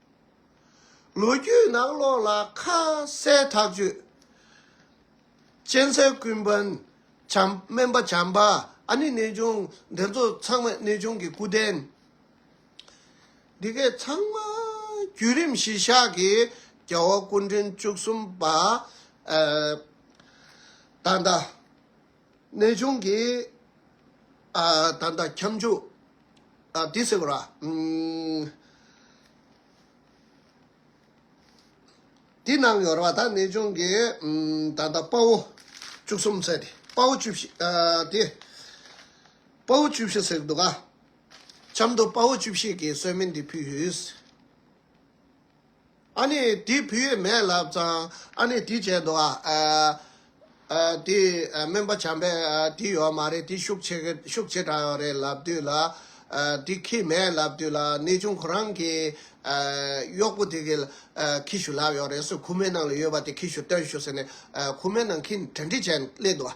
ལོ་རྒྱུས་ནང་ལོགས་ལ་ཁ་གསལ་ཐག་གཅོད་ཅན་གསལ་ཀུན་དཔོན་བྱམས་སྨན་པ་བྱམས་པ་ཨ་ནི་གནས་ཆུང་འདི་ཚོ་ཚང་མ་གནས་ཆུང་གི་སྐུ་རྟེན་འདི་གའི་ཚང་མ་བརྒྱུད་རིམ་གཞིས་བཞག་གི་རྒྱལ་བ་སྐུ་འཕྲེང་བཅུ་གསུམ་པ་ད་ལྟ་གནས་ཆུང་གི། ད་ལྟ་ཁྱབ་འཇུག་དེ་ཟེར་བ་ར། དེ་ནང་ཡོར་བ་ད་གནས་ཆུང་གི། ད་ལྟ་དཔའ་བོ་བཅུ་གསུམ་ཟེར། དཔའ་བོ་བཅུ་བཞི་དེ། དཔའ་བོ་བཅུ་བཞི་ཟེར་འདུག་ག། ཆབ་མདོ་དཔའ་བོ་བཅུ་བཞི་གི་གསོལ་མི་འདི་ཕུལ། ཨ་ནི་དེ་བུ་ཡོད་མེད་ལབ་ཙང་ཨ་ནི་དེ་བྱས་འདུག་ཨ། དེ་སྨན་པ་བྱམས་པས་དེ་ཡོད་མ་རེད་དེ་ཤུགས་ཆེ་ཤུགས་ཆེ་དྲགས་ཡོད་རེད་ལབ་དུས་ལ། དེ་ཁྱི་མེད་ལབ་དུས་ལ་ནད་ཆུང་ཁོ་རང་གི་གཡོག་པོ་དེ་གི་ཁྱི་ཤུགས་ལབ་ཡོད་རེད་སུ་ཁུག་མའི་ནང་ལ་ཡོད་པ་དེ་ཁྱི་ཤུགས་སྟོན་ཞུ་ཟེར་ནས་ཁུག་མའི་ནང་ཁྱི་གྲ་འགྲིག་བྱས་སླེབས་འདུག་ཨ།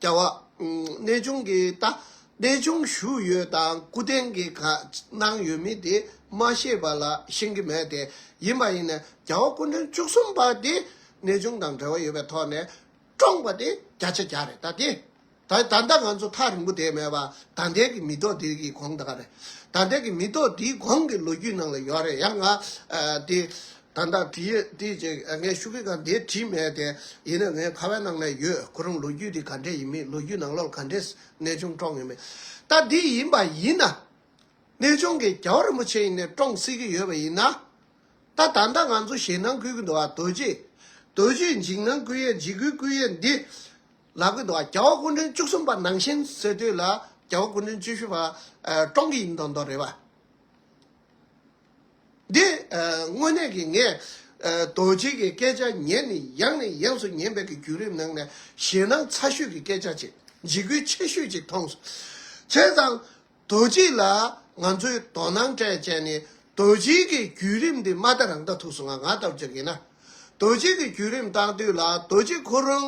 བྱ་བ། གནས་ཆུང་གི་རྟ། གནས་ཆུང་བཞུགས་ཡོད་དང་སྐུ་རྟེན་གྱི་ག་གནང་ཡོད་མིན་དེ་མ་ཤེས་པ་ལ་ཤེས་ཀྱི་མེད་དེ། ཡིན་པ་ཡིན་ན་རྒྱལ་བ་སྐུ་མགྲོན་བཅུ་གསུམ་པ་དེ་གནས་ཆུང་དང་འབྲེལ་བ་ཡོད་པའི་ཐོག་ནས་བཀྲོངས་པ་དེ་བརྒྱ་ཆ་བརྒྱ་རེད་ད་དེ། ད་ད་ལྟ་ང་ཚོ་ཐག་རིང་པོ་དེ་མེད་པ་ད་ལྟའི་གི་མི་ཐོག་དེའི་གི་གོང་དག་རེད། ད་ལྟའི་གི་མི་ཐོག་དེའི་གོང་གི་ལོ་རྒྱུས་ནང་ལ་ཡོད་རེད་ཡང་ང་དེ། ད་ལྟ་བྲིས་ཡོད་དུས་ཀྱི་ངའི་ཤུགས་ཀྱིས་ཀྱང་འདི་བྲིས་མེད་དེ། ཡིན་ན་ངའི་ཁ་བའི་ནང་ནས་ཡོད་ཁོ་རང་ལོ་རྒྱུས་འདི་ག་འདྲའི་ཡིན་མིན་ལོ་རྒྱུས་ནང་ལོག་ག་འདྲའི་གནས་ཆུང་བཀྲོངས་ཡོད་མེད། ད་འདི་ཡིན་པ་ཡིན་ན། གནས་ཆུང་གི་རྒྱལ་བོ་རིན་པོ་ཆེ་ཡིན་ནས་བཀྲོངས་སྲིད་ཀྱི་ཡོད་པ་ཡིན་ན། ད་ད་ལྟ་ང་ཚོ་ཞེད་སྣང་ཁུལ་གྱི་འདུག་རྡོ་རྗེ། རྡོ་རྗེའི་འཇིགས་སྣང་བསྐུལ་ཡས་འཇིགས་སྐུལ་བསྐུལ་ཡས་འདི། ལབ་ཀྱི་འདུག་རྒྱལ་བ་སྐུ་མགྲོན་བཅུ་གསུམ་པ་ནང་བཞིན་ཟེར་དུས་ལ་རྒྱལ་བོ་སྐུ་མགྲོན་བཅུ་བཞི་པ་བཀྲོངས་ཀྱི་ཡིན་མདོག་མདོག་རེད་བ། འདི་དངོས་གནས་ཀྱི་ངས་རྡོ་རྗེ་ཀྱི་སྐད་ཆ་ཉན་ནས་ཡང་ནས་ཡང་སུ་ཉན་པའི་ཀྱི་བརྒྱུད་རིམ་ནང་ནས་ཞེད་སྣང་ཚ་ཤོས་ཀྱི་སྐད་ཆ་ཅིག་འཇིགས་སྐུལ་ཆེ་ཤོས་ཅིག་མཐོང། བྱས་ཙང་རྡོ་རྗེ་ལ་ང་ཚོའི་དོ་སྣང་སྤྲད་སྤྱད་ནས་རྡོ་རྗེ་ཀྱི་བརྒྱུད་རིམ་འདི་མ་མཐའ་རང་མཐའ་ཐུགས་སུ་ང་ང་ལྟ་བུ་ཅིག་ཡིན་ན། རྡོ་རྗེ་ཀྱི་བརྒྱུད་རིམ་བཏང་དུས་ལ་རྡོ་རྗེ་ཁོ་རང་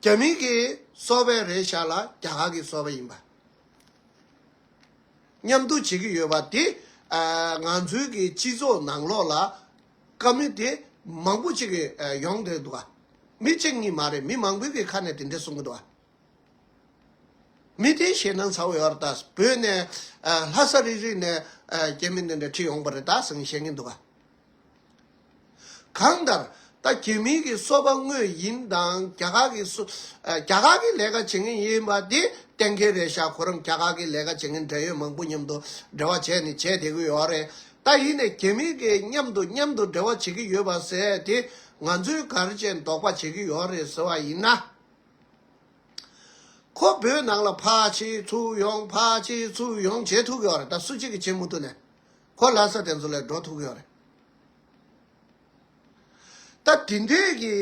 རྒྱ་མིང་གི་སོ་བའི་རེད་ཤག་ལ་རྒྱ་གར་གྱི་སོ་བ་ཡིན་པ། མཉམ་དུ་བྱེད་ཀྱི་ཡོད་པ་དེ། ང་ཚོའི་གི་སྤྱི་ཚོགས་ནང་ལོགས་ལ། དཀའ་མི་དེ་མང་པོ་ཅིག་གི་ཡོང་འདོད་འདུག། མི་གཅིག་གཉིས་མ་རེད་མི་མང་པོའི་གི་ཁ་ནས་དེ་འདྲས་གསུང་གི་འདུག། མི་དེའི་ཞེད་སྣང་ཚ་བོ་ཡོད་རེད་ད། བོད་ནས། ལྷ་ས་རིག་རིག་ནས་རྒྱ་མི་འདི་འདྲ་ཁྲིད་ཡོང་པ་རེད་ད་གསུང་བཤད་ཀྱི་འདུག། གང་ལྟར། ད་གྱེས་མིང་གི་སོ་པ་དངོས་ཡིན་དང་རྒྱ་གར་གྱི་སོ། རྒྱ་གར་གྱི་ལས་ཀ་བྱེད་མཁན་ཡིན་པ་དེ་གཏན་འཁེལ་རེད་ཤག་ཁོ་རང་རྒྱ་གར་གྱི་ལས་ཀ་བྱེད་མཁན་འབྲེལ་ཡོད་མང་པོ་མཉམ་དུ་འབྲེལ་བ་བྱས་ནས་བྱས་བསྡད་གི་ཡོད་རེད་ད་ཡིན་ནས་གྱེས་མིང་གི་མཉམ་དུ་མཉམ་དུ་འབྲེལ་བ་བྱེད་ཀྱི་ཡོད་པ་ཟེར་དེ་ང་ཚོའི་གར་ཅན་འདོགས་པ་བྱེད་ཀྱི་ཡོད་རེད་ཟེར་བ་ཡིན་ན། ཁོ་བོས་ནང་ལ་ཕར་ཕྱིན་ཚུར་ཡོང་ཕར་ཕྱིན་ཚུར་ཡོང་བྱེད་ཐུག་གི་ཡོད་རེད་ད་སུ་གཅིག་གིས་བྱེད་མུ་ཐུག་ནས། གོ་སླ་ས་དེ་ཚོ་ལས་འགྲོ་ཐུབ་ཀྱི་ཡོད་རེད། ད་དེ་འདྲས་ཀྱི་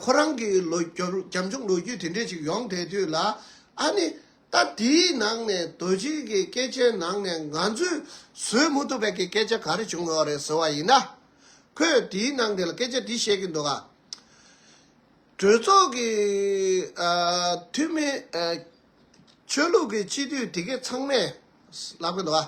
ཁོ་རང་གི་ལོ་རྒྱབ་ཆུང་ལོ་རྒྱུས་དེ་འདྲས་ཅིག་ཡོང་བསྡད་དུས་ལ་ཨ་ནི་ད་དེའི་ནང་ནས་རྡོ་རྗེ་གི་སྐད་ཆའི་ནང་ནས་ང་ཚོས་བཟོད་མུ་ཐུབ་པའི་གི་སྐད་ཆ་ག་རེ་བྱུང་ཡོད་རེད་ཟེར་བ་ཡིན་ན། ཁོས་དེའི་ནང་དེ་ལ་སྐད་ཆ་འདི་བཤད་ཀྱི་འདུག་ཨ། གྲོས་ཚོགས་ཀྱི་འཐུས་མི། ཆོས་ལུགས་ཀྱི་སྤྱི་འཐུས་དེ་གས་ཚང་མས་ལབ་ཀྱི་འདུག་ཨ།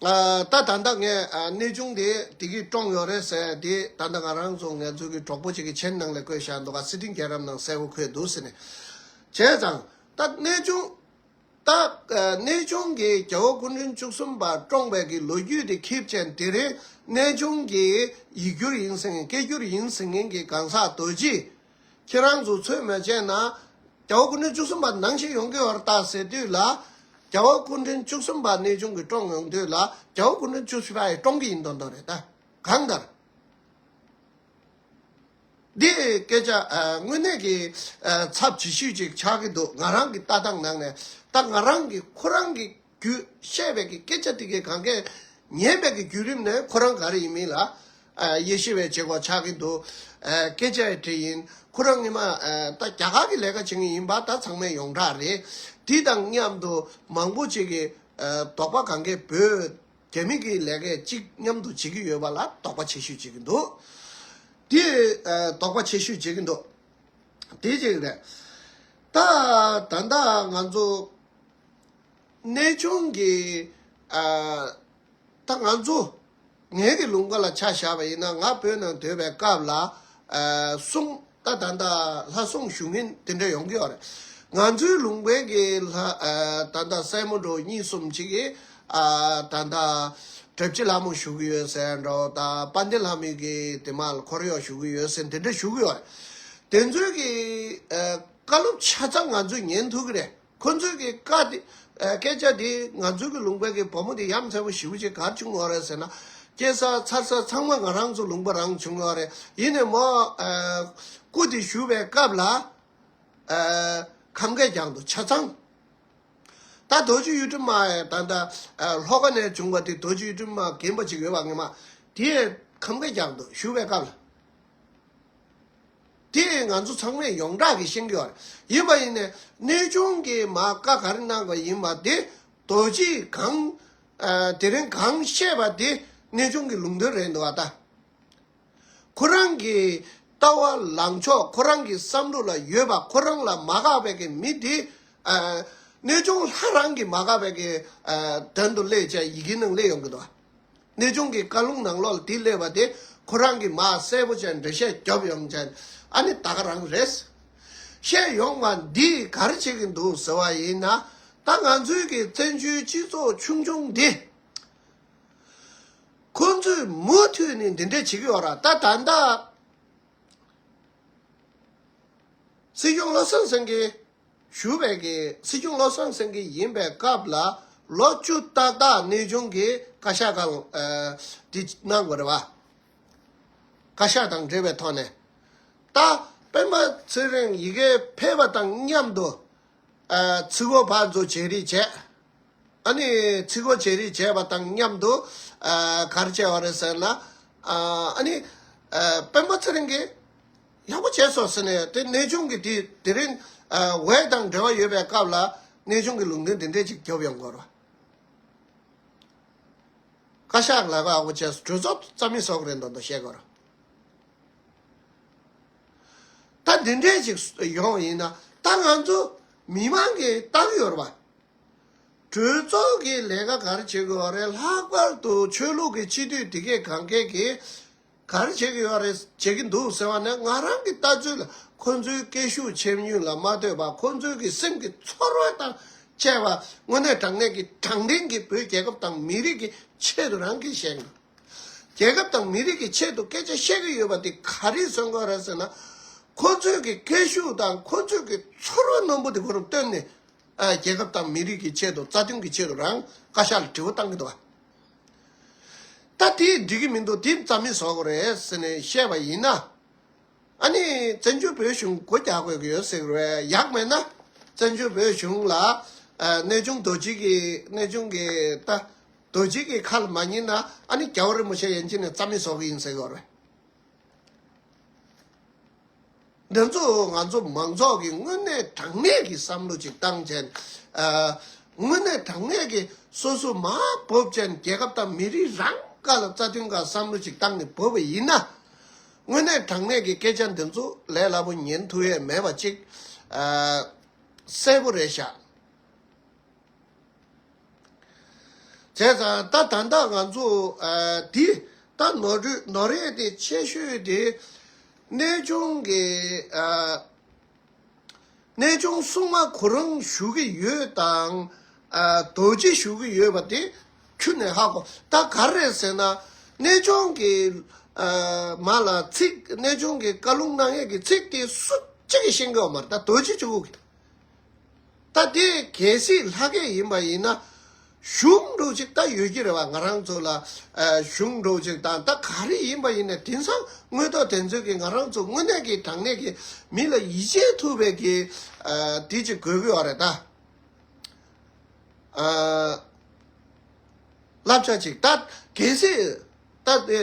ད་ད་ལྟ་ངས་གནས་ཆུང་དེ་དེ་གིས་བཀྲོངས་ཡོད་རེད་ཟེར་དེ་ད་ལྟ་ང་རང་ཚོ་ངལ་རྩོལ་གྱི་གྲོགས་པོ་གཅིག་གི་མཆན་ནང་ལས་བཀོད་བཞག་འདུག་ག་སི་ཏིང་རྒྱལ་རབས་ནང་གསལ་བོ་འཁོད་འདུག་ཟེར་ནས། བྱས་ཙང། ད་གནས་ཆུང། ད། གནས་ཆུང་གི་རྒྱལ་བོ་སྐུ་མགྲོན་བཅུ་གསུམ་པ་བཀྲོངས་པའི་གི་ལོ་རྒྱུས་དེ་ཁིབ་ཅན་དེ་རིང་གནས་ཆུང་གི་ཡིག་སྒྱུར་ཡིན་ཟེར་མཁན་སྐད་སྒྱུར་ཡིན་ཟེར་མཁན་གྱི་གང་ཟག་དོལ་སྤྱི་ཁྱེད་རང་ཚོ་ཚོད་མ་བྱས་ན། རྒྱ་བོད་སྐུ་མགྲོན་བཅུ་གསུམ་པ་ནང་བཞིན་ཡོང་གི་ཡོད་རྟགས་ཟེར་དུས་ལ། རྒྱ་བོད་སྐུ་མགྲོན་བཅུ་གསུམ་པ་གནས་ཆུང་གི་བཀྲོངས་ཡོང་དུས་ལ་རྒྱ་བོད་སྐུ་མགྲོན་བཅུ་བཞི་པ་ཡི་བཀྲོངས་གི་ཡིན་དོན་དོན་རེད་ད། གང་ལྟར། འདི་སྐད་ཆ་དངོས་གནས་ཀྱི་ཚབ་ཇི་ཞུས་ཅིག་ཆགས་ཀྱི་འདུག་ང་རང་གི་ལྟ་སྟངས་ནང་ནས་ད་ང་རང་གིས་ཁོ་རང་གི་རྒྱུ། ཤེས་བྱ་གི་སྐད་ཆ་དེ་གའི་གང་གཱའི་ཉེས་དམིགས་ཀྱི་བརྒྱུད་རིམ་ནི་ཁོ་རང་ག་རེ་ཡིན་མིན་ལ། ཡེ་ཤེས་བའི་བྱེད་སྒོ་ཆགས་ཀྱི་འདུག། སྐད་ཆའི་གྲས་ཡིན། ཁོ་རང་ངེད་མ་ད་རྒྱ་གར་གྱི་ལས་ཀ་བྱེད་མཁན་ཡིན་པ་ད་ཚང་མས་ཡོངས་གྲགས་རེད། དེ་དང་མཉམ་དུ་མང་པོ་ཅིག་གིས་དོགས་པ་གང་གཱའི་བོད་རྒྱ་མི་གི་ལས་ཀའི་གཅིག་མཉམ་དུ་བྱེད་ཀྱི་ཡོད་པ་ལ་དོགས་པ་ཆེ་ཤོས་བྱེད་ཀྱི་འདུག། དེ་དོགས་པ་ཆེ་ཤོས་བྱེད་ཀྱི་འདུག་དེ་གཅིག་རེད། ད་ད་ང་ཚོ། གནས་ཆུང་གིས་ད་ང་ཚོ་ངེད་ཀྱི་ལུང་པ་ལ་ཆ་བཞག་པ་ཡིན་ན་ང་བོད་ནང་སྡོད་པའི་སྐབས་ལ་གསུང་ད་ད་ལྟ་ལྷ་གསུང་ཞུ་མཁན་དེ་འདྲ་ཡོང་གི་ཡོད་རེད། ང་ཚོའི་ལུང་པའི་གི་ལྷ་ད་ལྟ་སྲས་མོ་འགྲོ་གཉིས་གསུམ་ཅིག་གིས་ད་ལྟ་དྲེབ་སྐྱིད་ལྷ་མོ་ཞུ་གི་ཡོད་ཟེར་ཡང་འདྲའོ་ད་དཔའ་ལྡན་ལྷ་མོས་གི་དེ་མ་ལ་འཁོར་གཡོག་ཞུ་གི་ཡོད་ཟེར་དེ་འདྲ་ཞུ་གི་ཡོད་རེད། དེ་ཚོའི་གི་བཀའ་སློབ་ཆ་ཚང་ང་ཚོས་ཉན་ཐུབ་ཀྱི་རེད། ཁོ་ཚོས་ཀྱི་བཀའ་དེ། སྐད་ཆ་དེ་ང་ཚོ་གི་ལུང་པའི་གི་བུ་མོ་དེ་ཡ་མཚན་པོ་ཞི་བུ་ཆེ་གར་བྱུང་བ་རེད་ཟེར་ན། སྐྱེས་ས་འཚར་ས་ཚང་མ་ང་རང་ཚོ་ལུང་པ་རང་བྱུང་བ་རེད་ཡིན་ནས་མོ། སྐུ་དེ་ཞུ་བའི་སྐབས་ལ། ཁམས་སྐད་རྒྱང་དུ་ཆ་ཚང། ད་རྡོ་རྗེ་གཡུ་དྲུང་མ་ཡས་ད་ལྟ་ལྷོ་ཁ་ནས་བྱུང་བ་དེ་རྡོ་རྗེ་གཡུ་དྲུང་མ་རྒན་པོ་ཅིག་ཡོད་པ་ངེས་མ། དེ་ཡས་ཁམས་སྐད་རྒྱང་དུ་ཞུ་བའི་སྐབས་ལ། དེ་ཡིས་ང་ཚོ་ཚང་མས་ཡོངས་གྲགས་ཀྱི་ཤེས་ཀྱི་ཡོད། ཡིན་པ་ཡིན་ནས་གནས་ཆུང་གིས་མ་དཀའ་ག་རེ་གནང་བ་ཡིན་པ་དེ་རྡོ་རྗེས་གང། དེ་རིང་གང་བཤད་པ་དེ་གནས་ཆུང་གི་ལུང་དོན་རེད་འདུག་ཨ་ཏཱ། ཁོ་རང་གི་ལྟ་བ་ལངས་ཕྱོགས་ཁོ་རང་གི་བསམ་བློ་ལ་ཡོད་པ་ཁོ་རང་ལ་མ་དགའ་བའི་ཀྱི་མི་དེ། གནས་ཆུང་ལྷ་རང་གིས་མ་དགའ་བའི་ཀྱི་དོན་དུ་སླེ་བྱས་ཡི་གེ་ནང་སླེ་ཡོང་གི་འདུག་ཨ། གནས་ཆུང་གི་བཀའ་ལུང་ནང་ལོག་ལྡིས་གླས་པ་དེ་ཁོ་རང་གི་མ་གསལ་པོ་ཅན་འབྲེལ་བཤད་རྒྱབ་ཡོང་མཁན་ཨ་ནི་ད་ག་རང་རེད། བཤད་ཡོང་བ་འདིས་གར་བྱེད་ཀྱི་འདུག་ཟེར་བ་ཡིན་ན་ད་ང་ཚོའི་གི་བཙན་བྱོལ་སྤྱི་ཚོགས་ཆུང་ཆུང་འདི། ཁོང་ཚོས་མུ་མཐུད་ནས་འདི་འདྲས་བྱེད་ཀྱི་ཡོད་ར་ད་ད་ལྟ་སྲིད་སྐྱོང་བློ་སེང་སེང་གིས། ཞུ་བའི་གི་སྲིད་སྐྱོང་བློ་བཟང་སེང་གེ་ཡིན་པའི་སྐབས་ལ་ལོ་བཅུ་ཏག་ཏག་གནས་ཆུང་གི་བཀའ་ཤག་གང་དེ་གནང་དགོས་རེད་བ། བཀའ་ཤག་དང་འབྲེལ་བའི་ཐོག་ནས་ད་སྤེན་པ་ཚེ་རིང་ཡི་གེ་ཕལ་བ་དང་མཉམ་དུ་ཚི་སྒོ་བག་འཛུགས་བྱེད་རིགས་བྱས། ཨ་ནི་ཚི་སྒོ་བྱེད་རིགས་བྱས་པ་དང་མཉམ་དུ་གར་བྱས་བ་རེད་ཟེར་ན་ཨ་ནི་སྤེན་པ་ཚེ་རིང་གིས། ཡག་པོ་བྱས་སོ་ཟེར་ནས་དེ་གནས་ཆུང་གི་དུས་དེ་རིང་ཝེ་དང་འབྲེལ་བ་ཡོད་པའི་སྐབས་ལ་གནས་ཆུང་གི་ལུང་དོན་དེ་འདྲས་ཅིག་རྒྱོབ་ཡོང་དགོས་རོ། བཀའ་ཤག་ལ་ཡག་པོ་བྱས་སོ་གྲོས་ཚོགས་རྩ་མི་སོགས་རེད་འདོད་འདོད་བཤད་དགོས་རོ། ད་འདི་འདྲས་ཅིག་ཡོང་ཡིན་ན་ད་ང་ཚོ་མི་མང་གི་ཏང་ཡོར་བ། གྲོས་ཚོགས་ཀྱི་ལས་ཀ་ག་རེ་བྱེད་དགོས་རེད་ལྷག་པར་དུ་ཆོས་ལུགས་ཀྱི་སྤྱི་འཐུས་དེ་གས་གང་གས་ཀྱིས། གར་བྱེད་ཀྱི་ཡོད་རེད་བྱེད་ཀྱི་འདུག་ཟེར་བ་ནི་ང་རང་གི་ལྟ་ཚུལ་ལ་ཁོང་ཚོའི་སྐད་ཤུགས་ཆེ་ཉུང་ལ་མ་ལྟོས་པར་ཁོང་ཚོའི་གི་སེམས་ཀྱི་ཚོར་བ་དང་བཅས་པ་དངོས་གནས་དྲང་གནས་ཀྱི་དྲང་བདེན་གྱི་བོད་རྒྱལ་ཁབ་དང་མི་རིགས་ཀྱི་ཆེད་དུ་རང་གིས་བཤད་འདུག་རྒྱལ་ཁབ་དང་མི་རིགས་ཀྱི་ཆེད་དུ་སྐད་ཆ་བཤད་ཀྱི་ཡོད་པ་དེ་ག་རེའི་གསོན་དགོས་རེད་ཟེར་ན་ཁོང་ཚོའི་གི་སྐད་ཤུགས་དང་ཁོང་ཚོའི་གི་ཚོར་བ་རྣོན་པོ་དེ་ཁོ་རང་བཏོན་ནས་རྒྱལ་ཁབ་དང་མི་རིགས་ཀྱི་ཆེད་དུ་རྩ་དོན་གྱི་ཆེད་དུ་རང་བཀའ་ཤག་ལ་དྲི་བ་བཏང་གི་འདུག་ག་ད་དེ་འགྲིག་གི་མི་འདུག་དེ་རྩ་མེད་བཟོ་དགོས་རེད་ཟེར་ནས་བཤད་པ་ཡིན། ཨ་ནི་བཙན་བྱོལ་བོད་གཞུང་སྒོ་རྒྱག་དགོས་ཀྱི་ཡོད་ཟེར་བས་ཡག་མེད་ན། བཙན་བྱོལ་བོད་གཞུང་ལ་གནས་ཆུང་རྡོ་རྗེ་གི་གནས་ཆུང་གི་ད་རྡོ་རྗེ་གི་ཁ་ལ་མ་ཉན་ན་ཨ་ནི་རྒྱ་བོ་རིན་པོ་ཆེ་ཡན་ཅིན་ནས་རྩ་མེད་བཟོ་གི་ཡིན་ཟེར་དགོས་རེད། འདི་ཚོ་ང་ཚོ་མང་ཚོགས་ཀྱི་དངོས་གནས་དྲང་གནས་ཀྱི་བསམ་བློ་གཅིག་བཏང་ཅན། དངོས་གནས་དྲང་གནས་ཀྱི་སོ་སོ་མ་བོབ་ཅན་རྒྱལ་ཁབ་དང་མི་རིགས་རང་ཀ་ལ་རྩ་དོན་འགའ་བསམ་བློ་གཅིག་བཏང་ནས་བོས་པ་ཡིན་ན། དངོས་གནས་དྲང་གནས་ཀྱི་སྐད་ཆ་འདི་ཚོ་ལས་སླ་པོ་ཉན་ཐུབ་ཡས་མེད་པ་གཅིག་གསལ་པོ་རེད་ཤག། བྱས་ཙང་ད་ད་ལྟ་ང་ཚོ་འདི་ད་ནོར་འཁྲུལ་ནོར་རེ་དེ་ཆེ་ཤོས་དེ་གནས་ཆུང་གི་གནས་ཆུང་སྲུང་མ་ཁོ་རང་བཞུགས་ཀྱི་ཡོད་དང་རྡོ་རྗེ་བཞུགས་ཀྱི་ཡོད་པ་དེ་ཁྱུ་ནས་ཧ་གོ་ད་ག་རེད་ཟེར་ན་གནས་ཆུང་གི་མ་ལ་ཚིག་གནས་ཆུང་གི་བཀའ་ལུང་གནང་ཡས་ཀྱི་ཚིག་དེ་སུ་གཅིག་གིས་ཤེས་གི་ཡོད་མ་རེད་ད་རྡོ་རྗེ་བཞུགས་ཀྱི་ད་དེ་གལ་སྲིད་ལྷ་སྐལ་ཡིན་པ་ཡིན་ན་གཞུང་སྒྲོག་ཅིག་ད་ཡོད་ཀྱི་རེད་བ་ང་རང་ཚོ་ལ་གཞུང་སྒྲོག་ཅིག་དང་ད་ག་རེ་ཡིན་པ་ཡིན་ནས་དེང་སང་དངོས་ཐོག་དེ་ཚོད་ཀྱི་ང་རང་ཚོ་དངོས་གནས་ཀྱི་དྲང་གནས་ཀྱི་མི་ལ་ཡིད་ཆེས་ཐུབ་པའི་ཀྱི་དེ་ཅིག་དགོས་ཀྱི་བ་རེད་ད། བསླབ་བྱ་ཅིག་ད་གལ་སྲིད་ད་དེ།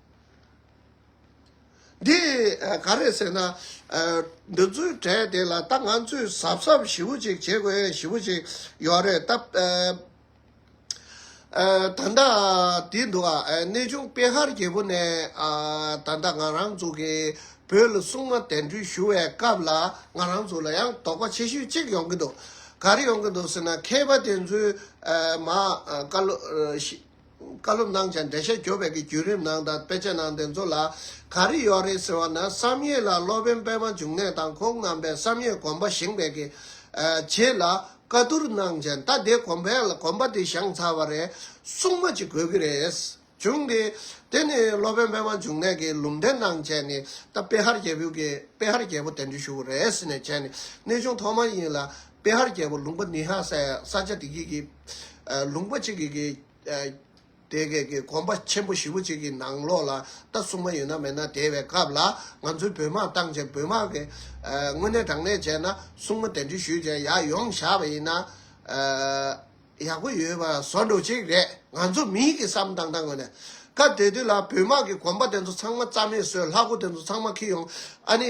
འདི་ག་རེད་ཟེར་ན། འདི་ཚོའི་གྲས་དེ་ལ་ད་ང་ཚོས་གཟབ་གཟབ་ཞིབ་པོ་ཅིག་བྱེད་དགོས་ཞིབ་པོ་ཅིག་ཡོད་རེད་སྟབས། ད་ལྟ་དེ་འདུག་གནས་ཆུང་དཔལ་ཧར་རྒྱལ་པོ་ནས་ད་ལྟ་ང་རང་ཚོ་གིས་བོད་ལ་སྲུང་མ་གདན་འདྲེན་ཞུ་བའི་སྐབས་ལ་ང་རང་ཚོ་ལ་ཡང་དོགས་པ་ཆེ་ཤོས་གཅིག་ཡོང་གི་འདུག་ག་རེ་ཡོང་གི་འདུག་ཟེར་ན་མཁས་པ་དེ་ཚོའི་མ་བཀའ་སློབ། བཀའ་སློབ་གནང་བྱ་འགྲེལ་བཤད་གྱོ་བའི་གི་བརྒྱུད་རིམ་ནང་དང་དཔེ་ཆ་ནང་དེ་ཚོ་ལ་ག་རེ་ཡོག་རེད་ཟེར་བ་ན་བསམ་ཡས་ལ་སློབ་དཔོན་པད་མ་འབྱུང་གནས་དང་ཁོང་རྣམ་པས་བསམ་ཡས་གོམ་པ་བཞེངས་པའི་གི་རྗེས་ལ་བཀའ་བསྡུར་གནང་བྱ་ད་དེ་གོམ་པའི་ལ་གོམ་པ་དེ་བཞེངས་ཚར་བ་རེད་གསུངས་མ་ཅིག་དགོས་གི་རེད་བྱུང་གི། དེ་ནི་སློབ་དཔོན་པད་མ་འབྱུང་གནས་གི་ལུང་འདྲེན་གནང་བྱས་ནི་ད་དཔེ་ཧར་རྒྱལ་བོའི་གི་དཔེ་ཧར་རྒྱལ་བོ་དེ་འདྲི་ཞུ་བོ་རེད་ཟེར་ནས་བྱས་ནི་གནས་ཆུང་ཐོག་མ་ཡིན་ལ་པེ་ཧར་རྒྱལ་པོ་ལུང་པ་ནི་ཧ་སའི་ས་ཆ་དེ་གའི་ལུང་པ་གཅིག་གིས་དེ་གའི་དགོན་པ་ཆེན་པོ་བཞི་བོ་གཅིག་གི་ནང་ལོགས་ལ་རྟ་བསྲུང་མ་ཡོད་ན་མེད་ན་དེ་བའི་སྐབས་ལ་ང་ཚོའི་བོད་དམག་བཏང་རྗེས་བོད་དམག་གིས་དངོས་གནས་དྲང་གནས་བྱས་ན་བསྲུང་མ་གདན་འདྲེན་ཞུས་རྗེས་ཡར་ཡོང་བཞག་པ་ཡིན་ན་ཡག་པོ་ཡོད་པ་བཟོ་འགྲོ་གཅིག་རེད་ང་ཚོ་མིའི་གི་བསམ་སྟངས་དང་ངོས་ནས་སྐབས་དེ་དུས་ལ་བོད་དམག་གི་དགོན་པ་དེ་ཚོ་ཚང་མ་རྩ་མེད་བཟོས་ལྷ་སྐུ་དེ་ཚོ་ཚང་མ་ཁྱི་ཡོང་ཨ་ནི།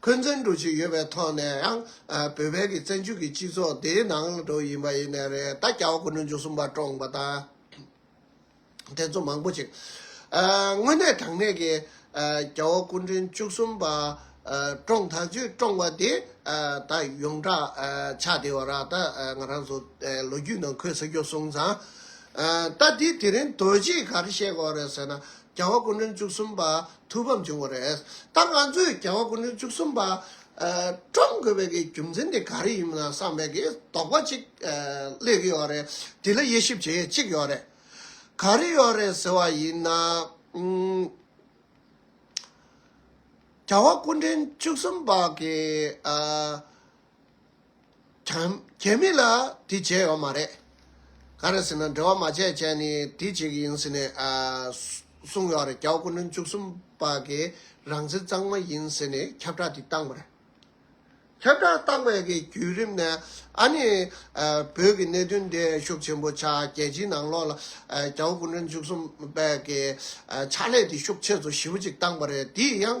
འཁོན་འཛིན་འགྲོ་བཞིན་ཡོད་པའི་ཐོག་ནས་ཡང་བོད་བལ་གྱི་བཙན་བྱོལ་གྱི་སྤྱི་ཚོགས་འདིའི་ནང་དུ་ཡིན་པ་ཡིན་ནའི་རེད་ད་སྐྱ་བོ་དགུ་ནོར་འཇུ་གསུམ་པ་བཀྲོངས་པ་དང། དེ་ཚོ་མང་པོ་ཅིག་དངོས་གནས་དྲང་གནས་ཀྱི་སྐྱ་བོ་དགུ་འདྲེན་བཅུ་གསུམ་པ་བཀྲོངས་ད་བཅོས་བཀྲོངས་པ་དེ་ད་ཡོངས་གྲགས་ཆགས་བསྡད་བ་ར་ད་ང་རང་ཚོ་ལོ་རྒྱུས་ནང་འཁོད་ས་རྒྱོབ་སོང་ཙང། ད་དེ་དེ་རིང་དོལ་རྗེས་ག་རེ་བཤད་དགོས་རེད་ཟེར་ན། བརྒྱ་བ་ཀུན་འབྲིང་བཅུ་གསུམ་པ་ཐུགས་ཕམ་བྱུང་བ་རེད། ད་ང་ཚོས་བརྒྱ་བ་ཀུན་འབྲིང་བཅུ་གསུམ་པ་བཀྲམ་དགོས་པའི་གི་རྒྱུ་མཚན་དེ་ག་རེ་ཡིན་མིན་བསམ་པའི་གི་དོགས་པ་ཅིག་སླེབས་ཀྱི་ཡོད་རེད། དེ་ལ་དབྱེ་ཞིབ་བྱེད་ཡས་ཅིག་ཡོད་རེད། ག་རེ་ཡོད་རེད་ཟེར་བ་ཡིན་ན། བརྒྱ་བ་ཀུན་འབྲིང་བཅུ་གསུམ་པ་གི། གལ་མིན་ལ་དེ་བྱས་ཡོད་མ་རེད། ག་རེ་ཟེར་ན་འབྲེལ་བ་མ་བྱས་བྱས་ནས་དེ་བྱེད་ཀྱི་ཡིན་ཟེར་ནས་གསུངས་ཡོད་རེད་ཀྱའོ་སྐུ་མགྲོན་བཅུ་གསུམ་པ་གིས་རང་བཙན་གཙང་མ་ཡིན་ཟེར་ནས་ཁྱབ་བསྒྲགས་དེ་བཏང་བ་རེད། ཁྱབ་བསྒྲགས་བཏང་བའི་གི་བརྒྱུད་རིམ་ནས་ཨ་ནི་བོད་ཀྱི་གནད་དོན་འདི་ཤུགས་ཆེན་པོ་ཆགས་རྒྱལ་སྤྱིའི་ནང་ལོགས་ལ་ཀྱའོ་སྐུ་མགྲོན་བཅུ་གསུམ་པ་གིས་ཕྱག་ལས་དེ་ཤུགས་ཆེ་ཚོ་ཞིབ་ཅིག་བཏང་བ་རེད་དེ་ཡང་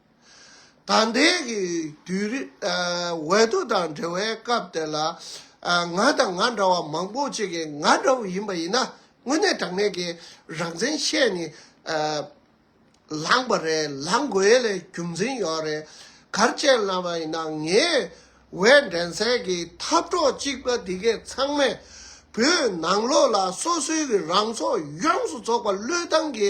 དང་འདས་ཀྱི་དུས་རིང་འོད་དུ་དང་འབྲེལ་བའི་སྐབས་དེ་ལ། ང་དང་ང་འདྲ་བ་མང་པོ་ཅིག་གིས་ང་འདྲ་བོ་ཡིན་པ་ཡིན་ན་དངོས་གནས་དྲང་གནས་ཀྱི་རང་བཙན་ཤེས་ནི་ལངས་པ་རེད་ལངས་དགོས་ལས་རྒྱུ་མཚན་ཡོད་རེད་གར་བཅད་ལངས་པ་ཡིན་ན་ངའི་འོད་འདྲེན་སའི་གི་འཐབ་གྲོགས་གཅིག་པ་འདི་གས་ཚང་མས་བོད་ནང་ལོགས་ལ་སོ་སོའི་གི་རང་ཚོགས་ཡོངས་སུ་རྫོགས་པ་བློས་བཏང་གི།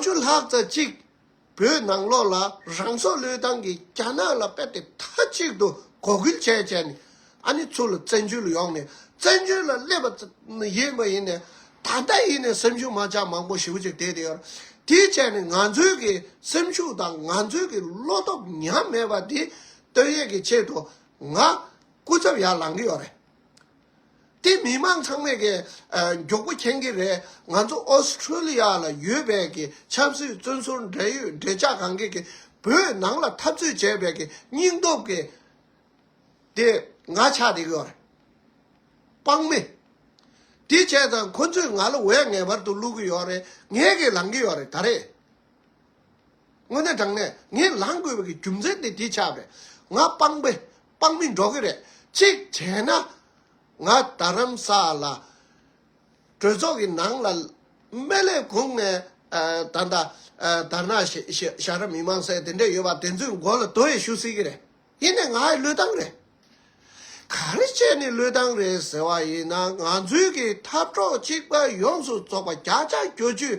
བཅུ་ལྷག་རྩ་གཅིག་བོད་ནང་ལོག་ལ་རང་སྲོག་བློས་བཏང་གིས་རྒྱ་ནག་ལ་དཔེ་དེབ་མཐའ་གཅིག་ཏུ་གོ་སྐུལ་བྱས་བྱས་ནས་ཨ་ནི་ཚུར་ལ་བཙན་བྱོལ་ཡོང་ནས་བཙན་བྱོལ་ལ་སླེབས་པ་ཡིན་པ་ཡིན་ནས་ད་ལྟ་ཡིན་ནས་སེམས་ཤུགས་མ་ཆག་མང་པོ་ཞིབ་ཅིག་བསྡད་དེ་ཡོད་དེ་བྱས་ནས་ང་ཚོའི་གི་སེམས་ཤུགས་དང་ང་ཚོའི་གི་བློ་སྟོབས་ཉམས་མེད་པ་དེ་བསྟོད་ཡས་ཀྱི་ཆེད་དུ་ང་སྐུ་ཚབ་ཡར་ལངས་གི་ཡོད་རེད་དེ་མི་མང་ཚང་མས་ཀྱི་མགྱོགས་པོ་མཁྱེན་གྱི་རེད་ང་ཚོ Australia ལ་ཡོད་པས་ཀྱི་ཆབ་སྲིད་བཙོན་ཟུར་འབྲེལ་ཡོད་འབྲེལ་ཆགས་གང་གིས་ཀྱི་བོད་ནང་ལ་འཐབ་རྩོད་བྱས་པས་ཀྱི་སྙིང་སྟོབས་ཀྱི་དེ་ང་ཆགས་དེ་གི་རེད། དཔང་མི། དེ་བྱས་ཙང་ཁོ་ཚོས་ང་ལ་འོས་ངེས་པར་དུ་བླུག་གི་ཡོད་རེད་ངས་ཀྱི་ལང་གི་ཡོད་རེད་ད་རེད། དངོས་གནས་དྲང་གནས་ངས་ལང་དགོས་པའི་ཀྱི་རྒྱུ་མཚན་དེ་དེ་ཆགས་པས་ང་དཔང་པོ་དཔང་མི་འགྲོ་གི་རེད། གཅིག་བྱས་ན། ང་རྡ་རམ་ས་ལ་གྲོས་ཚོགས་ཀྱི་ནང་ལ་སྨན་ལས་ཁུངས་ནས་ད་ལྟ་དར་ནག་ཞྭ་ར་མི་མང་སེ་དེ་འདྲས་ཡོད་པ་དེ་ཚོའི་མགོ་ལ་དོ་ཡི་ཞུ་སྲིད་ཀྱི་རེད། ཡིན་ནའི་ང་ཡི་བློས་བཏང་རེད། ག་རེ་བྱས་ནས་བློས་བཏང་རེད་ཟེར་བ་ཡིན་ན་ང་ཚོའི་གི་འཐབ་གྲོགས་གཅིག་པ་ཡོངས་སུ་རྫོགས་པ་བརྒྱ་ཆ་གྱོ་བཅུས་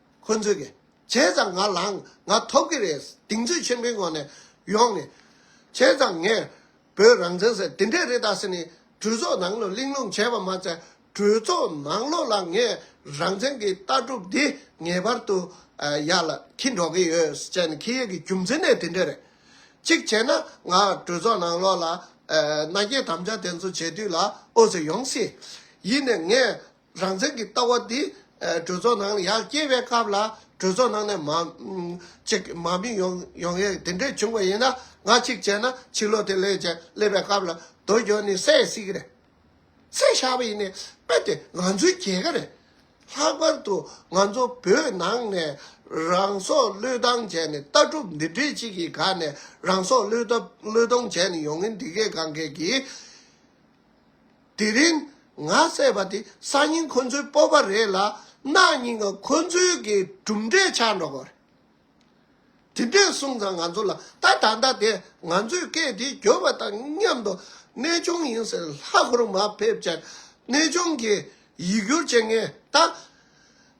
ཁོ་ཚོས་གི་བྱས་ཙང་ང་ལངས་ང་ཐོབ་གི་རེད་གདེང་ཚོད་ཆེན་པོའི་ངང་ནས་ཡོང་ནས། བྱས་ཙང་ངས་བོད་རང་བཙན་ཟེར་དེ་འདྲས་རེད་ད་ཟེར་ནས་གྲོས་ཚོགས་ནང་ལོག་གླེང་སློང་བྱས་པ་མ་ཚད་གྲོས་ཚོགས་ནང་ལོག་ལ་ངས་རང་བཙན་གི་ལྟ་གྲུབ་འདི་ངེས་པར་དུ་ཡར་ལ་འཁྱིལ་འགྲོ་གི་ཡོད་ཟེར་ནས་ཁེ་ཡོད་ཀྱི་རྒྱུ་མཚན་ནས་དེ་འདྲས་རེད། གཅིག་བྱས་ན་ང་གྲོས་ཚོགས་ནང་ལོག་ལ་མནའ་སྐྱེལ་དམ་བཅའ་དེ་ཚོ་བྱས་དུས་ལ་ཨོ་ཟེར་ཡོང་སྲིད། ཡིན་ནས་ངས་རང་བཙན་གྱི་ལྟ་བ་འདི་གྲོས་ཚོགས་ནང་ཡར་སྐྱེལ་བའི་སྐབས་ལ་གྲོས་ཚོགས་ནང་ནས་མགཅིག་མ་མི་ཡོང་ཡས་དེ་འདྲས་བྱུང་བ་ཡིན་ན་ང་གཅིག་བྱས་ན་ཕྱི་ལོགས་དེ་ལས་ཀྱང་སླེབས་པའི་སྐབས་ལ་དོ་ཅོ་ནི་སད་སིག་རེད། སད་བཞག་པ་ཡིན་ནས་དཔེ་དེ་ང་ཚོའི་རྒྱལ་ཁ་རེད། ལྷག་པར་དུ་ང་ཚོ་བོད་ནང་ནས་རང་སྲོག་བློས་བཏང་བྱས་ནས་ལྟ་གྲུབ་འདི་འདྲས་གཅིག་གི་ག་ནས་རང་སྲོག་བློས་བཏང་བྱས་ནས་ཡོང་ངེས་འདི་གས་གང་གས་ཀྱིས། དེ་རིང་ང་བསད་པ་དེ་སང་ཉིན་ཁོ་ཚོའི་སྤོབས་པ་རེད་ལ་གནངས་ཉིན་ང་ཁོ་ཚོའི་གི་གྲུབ་འབྲས་ཆགས་འགྲོ་གི་རེད། དེ་འདྲས་གསུངས་ཙང་ང་ཚོ་ལ་ད་ད་ལྟ་དེ་ང་ཚོས་སྐད་དེ་བརྒྱོད་པ་དང་མཉམ་དུ་གནས་སྐྱོང་ཡིན་ཟེར་ལྷ་ཁུར་མ་ཕེབས་ཅེར་གནས་སྐྱོང་གི་ཡིག་སྒྱུར་བྱེད་ངེས་ད་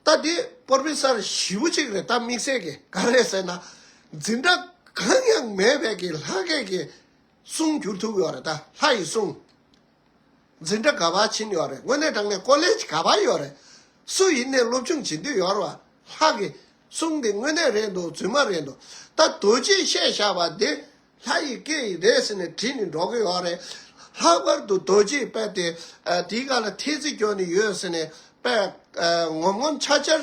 ད་དེ་སྤོར་པི་སར་བཞི་བོ་གཅིག་རེད་ད་དམིགས་བསལ་གི་ག་རེད་ཟེར་ན་འཛིན་གྲྭ་གང་ཡང་མེད་པའི་གི་ལྷ་སྐད་གི། གསུང་གྱུར་ཐུགས་ཡོད་རེད་ད་ལྷ་ཡི་གསུང། འཛིན་གྲྭ་ག་བར་བྱིན་ཡོད་རེད་དངོས་གནས་དྲང་གནས་ཀོ་ལེ་ཇ་ག་བར་ཡོད་རེད། སུ་ཡིན་ནས་སློབ་ཆུང་བྱིན་དུས་ཡོར་བ་ལྷ་གི་གསུང་འདི་དངོས་གནས་རེད་འདུག་རྫུན་མ་རེད་འདུག་ད་རྡོ་རྗེས་བཤད་བཞག་པ་འདི་ལྷ་ཡི་སྐད་ཡིག་རེད་ཟེར་ནས་བྲིས་ནས་འགྲོ་གི་ཡོད་རེད། ལྷག་པར་དུ་རྡོ་རྗེས་དཔེ་དེ་དེའི་ཁ་ལ་ཐེལ་ཙེ་གྱོན་ནས་ཡོད་ཟེར་ནས་དཔེ་ངོམ་ངོམ་འཆར་འཆར།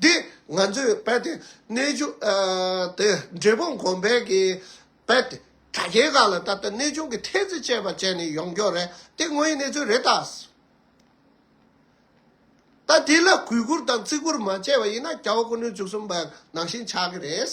འདི་ང་ཚོས་རྦད་དེ་གནས་ཆུང་དེ་འབྲས་སྤུངས་གོང་འཕེལ་གྱི་རྦད་དེ་དྲ་རྒྱའི་སྒང་ལ་ད་ལྟ་གནས་ཆུང་གི་ཐེལ་ཙེ་བཅས་པ་བཅད་ནས་ཡོང་མགྱོགས་རེད་དེ་དངོས་ཡིན་གནས་ཚུལ་རེད་ད། ད་དེ་ལ་གུས་བཀུར་དང་བརྩི་བཀུར་མ་བྱས་པ་ཡིན་ན་སྐྱ་བོ་ཀུན་གནོད་བཅུ་གསུམ་པ་ནང་བཞིན་ཆགས་ཀྱི་རེད།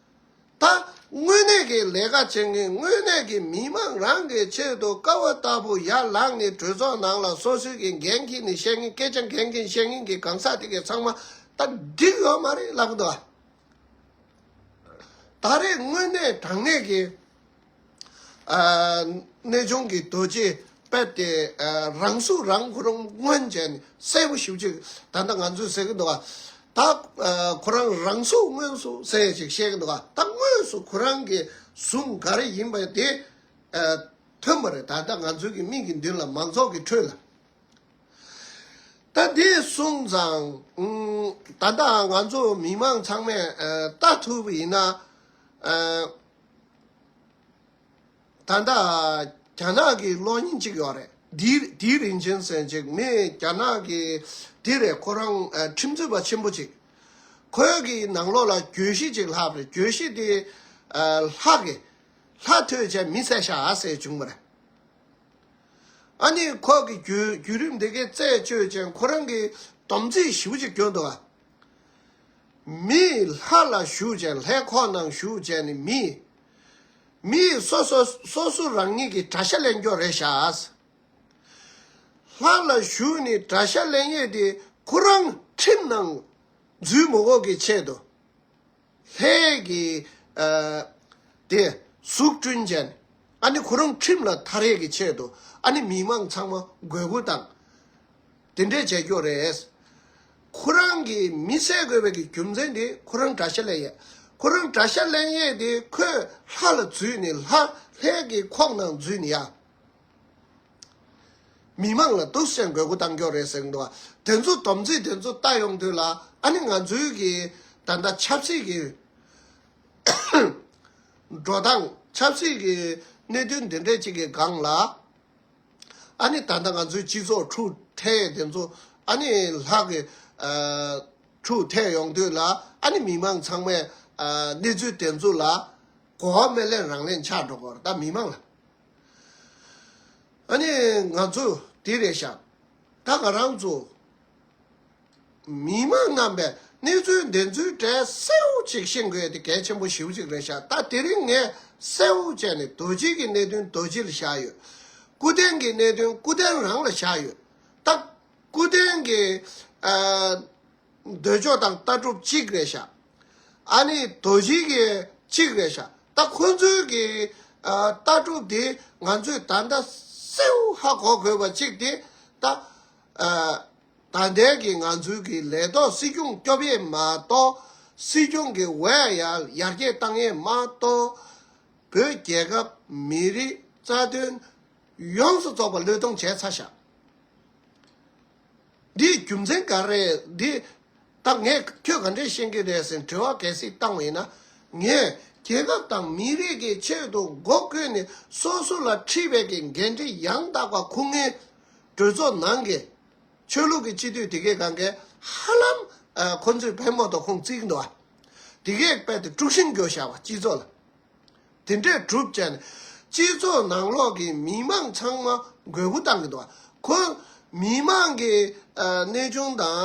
ད། དངོས་གནས་ཀྱི་ལས་ཀ་བྱེད་མཁན་དངོས་གནས་ཀྱི་མི་དམངས་རང་གི་ཆེད་དུ་དཀའ་བ་ལྟ་བུ་ཡར་ལངས་ནས་གྲོས་ཚོགས་ནང་ལ་སོ་སོའི་གི་འགན་འཁྱིལ་ནས་བཤད་མཁན་སྐད་ཆ་འགན་འཁྱིལ་བཤད་མཁན་གྱི་གང་ཟག་དེ་གའི་ཚང་མ་ད་འགྲིག་ཡོད་མ་རེད་ལབ་གི་འདུག་ཨ། ད་རེས་དངོས་གནས་དྲང་གནས་ཀྱི། གནས་ལྗོངས་ཀྱི་རྡོ་རྗེ་དཔལ་ཏེ་རང་གཟུགས་རང་ཁོ་རང་མངོན་བྱས་ནས་གསལ་པོ་ཞིབ་ཅིག་ད་ལྟ་ང་ཚོས་ཟེར་གྱི་འདུག་ད་ཁོ་རང་རང་གཟུགས་དངོས་སུ་གསལ་ཞིག་བཤད་ཀྱི་འདུག་ད་དངོས་སུ་ཁོ་རང་གི་གཟུགས་ག་རེ་ཡིན་པ་དེ་ཐོན་པ་རེད་ད་ལྟ་ང་ཚོའི་གི་མིག་གི་མདུན་ལ་མང་ཚོགས་ཀྱི་ཁྲོད་ལ། ད་དེ་སོང་ཙང་ད་ལྟ་ང་ཚོ་མི་མང་ཚང་མས་ལྟ་ཐུབ་ཡིན་ན། ད་ལྟ་རྒྱ་ནག་གི་གློག་བརྙན་གཅིག་ཡོད་རེད། དེའི་རིན་ཆེན་གསལ་མཇུག་མི་རྒྱ་ནག་གི་དེ་རེད་ཁོ་རང་ཁྲིམས་རྩོད་པ་ཆེན་པོ་གཅིག་ཁོའི་གི་ནང་ལོགས་ལ་གྱོད་གཞི་གཅིག་ལྷག་རེད་གྱོད་གཞི་དེ་ལྷག་གི་ལྷག་ཐོས་བྱས་མི་བསད་ཤ་བསད་བྱུང་བ་རེད། ཨ་ནི་ཁོ་གི་བརྒྱུད་རིམ་དེ་གའི་རྩད་གཅོད་ཅན་ཁོ་རང་གི་དམ་ཚིག་ཞིབ་གཅིག་གྱོད་འདུག་ཨ། མིས་ལྷ་ལ་ཞུགས་བྱས་ལྷའི་ཁོག་ནང་ཞུགས་བྱས་ནས་མིས། མིས་སོ་སོ་སོ་སོ་རང་ཉིད་ཀྱི་དགྲ་ཤ་ལེན་རྒྱོ་རེ་བྱ། ལྷ་ལ་ཞུགས་ནས་དགྲ་ཤ་ལེན་ཡས་དེ་ཁོ་རང་ཁྲིམས་ནང་འཛུལ་མོ་འོག་གི་ཆེད་དུ། ལྷའི་གྱི། དེ། གཟུགས་སྐྲུན་ཅན། ཨ་ནི་ཁོ་རང་ཁྲིམས་ལ་མཐའ་རེག་གི་ཆེད་དུ་ཨ་ནི་མི་མང་ཚང་མ་དགོས་མཁོ་དང། དེ་འདྲས་བྱས་ཀྱོ་རེད། ཁོ་རང་གི་མི་བསད་དགོས་པའི་གི་རྒྱུ་མཚན་དེ་ཁོ་རང་དགྲ་ཤ་ལེན་ཡས། ཁོ་རང་དགྲ་ཤ་ལེན་ཡས་དེ་ཁོས་ལྷ་ལ་བརྫུས་ནས་ལྷ་ལྷའི་གི་ཁོག་ནང་འཛུལ་ནས་ཡ། མི་མང་ལ་གཏུག་བཤེར་དགོས་མཁོ་གཏང་མགྱོགས་རེད་ཟེར་གྱི་འདུག་དེ་ཚོ་དོམ་ཚིག་དེ་ཚོ་བལྟ་ཡོང་དུས་ལ་ཨ་ནི་ང་ཚོའི་གི་ད་ལྟ་ཆབ་སྲིད་ཀྱི་འགྲོ་སྟངས་ཆབ་སྲིད་ཀྱི་གནད་དོན་འདི་འདྲས་ཅིག་གི་སྒང་ལ་ཨ་ནི་ད་ལྟ་ང་ཚོའི་སྤྱི་ཚོགས་ཁྲུག་ཐལ་དེ་ཚོ་ཨ་ནི་ལྷག་གི་ཁྲུག་ཐལ་ཡོང་དུས་ལ་ཨ་ནི་མི་མང་ཚང་མས་གནས་ཚུལ་དེ་ཚོ་ལ་གོ་བ་མེད་ལས་རང་ལས་འཆག་འགྲོ་དགོས་རེད་ད་མི་མང་ལ། ཨ་ནི་ང་ཚོ་དེ་རེད་ཤག་ད་ང་རང་ཚོ་མི་མང་རྣམས་པས་གནས་ཚུལ་འདི་ཚོའི་གྲས་གསལ་བོ་ཅིག་ཤེས་དགོས་དེ་གལ་ཆེན་པོ་ཞིའུ་ཅིག་རེད་ཤག་ད་དེ་རིང་ངས་གསལ་བོ་བྱས་ནས་རྡོ་རྗེ་གི་གནད་དོན་རྡོ་རྗེ་ལ་བཞག་ཡོད། སྐུ་རྟེན་གི་གནད་དོན་སྐུ་རྟེན་རང་ལ་བཞག་ཡོད། ད་སྐུ་རྟེན་གི་འདོད་ཕྱོགས་དང་ལྟ་གྲུབ་གཅིག་རེད་ཤག། ཨཱ་ནི་དོ་བཞི་ཡི་གཅིག་རེད་ཤག་ད་ཁོ་ཚོའི་གི་ལྟ་གྲུབ་དེ་ང་ཚོས་ད་ལྟ་སེའུ་ཧ་གོ་དགོས་པ་གཅིག་དེ་ད་ད་ལྟའི་གི་ང་ཚོའི་གི་ལས་ཐོག་སྲིད་སྐྱོང་སྐྱོབ་ཡས་མ་གཏོགས་སྲིད་སྐྱོང་གི་བས་ཡར་རྒྱས་བཏང་ཡས་མ་གཏོགས་བོད་རྒྱལ་ཁབ་མི་རིགས་རྩ་དོན་ཡོངས་སུ་རྫོགས་པ་བློས་གཏོང་བྱས་ཚར་ཤག། འདིའི་རྒྱུ་མཚན་ག་རེད་འདི་ལྟ། ངས་ཁྱོད་ག་འདྲས་ཤེས་ཀྱི་རེད་ཟེར་དྲི་བ་གལ་སྲིད་བཏང་བས་ན། ངས་རྒྱལ་ཁབ་དང་མི་རིགས་ཀྱི་ཆེད་དུ་མགོ་བསྐོན་ནས་སོ་སོ་ལ་འཁྲི་བས་ཀྱི་འགན་འཁྲི་ཡང་དག་པ་ཁུར་ངེས། གྲོས་ཚོགས་ནང་གི་ཆོས་ལུགས་ཀྱི་སྤྱི་འཐུས་དེ་གས་གང་གས་ཧ་ལམ་ཁོ་ཚོས་བལ་མོ་དང་ཁུང་བརྩིགས་འདུག་ཨ། དེ་གས་དཔལ་དེ་དཀྲུགས་ཤིང་རྒྱོ་བྱ་བ་སྤྱི་ཚོགས་ལ། དེ་འདྲས་གྲུབ་བྱས་ནས་སྤྱི་ཚོགས་ནང་ལོགས་ཀྱི་མི་དམངས་ཚང་མ་རྒོད་པོ་བཏང་གི་འདུག་ཁོ་མི་དམངས་ཀྱི་གནས་ཆུང་དང་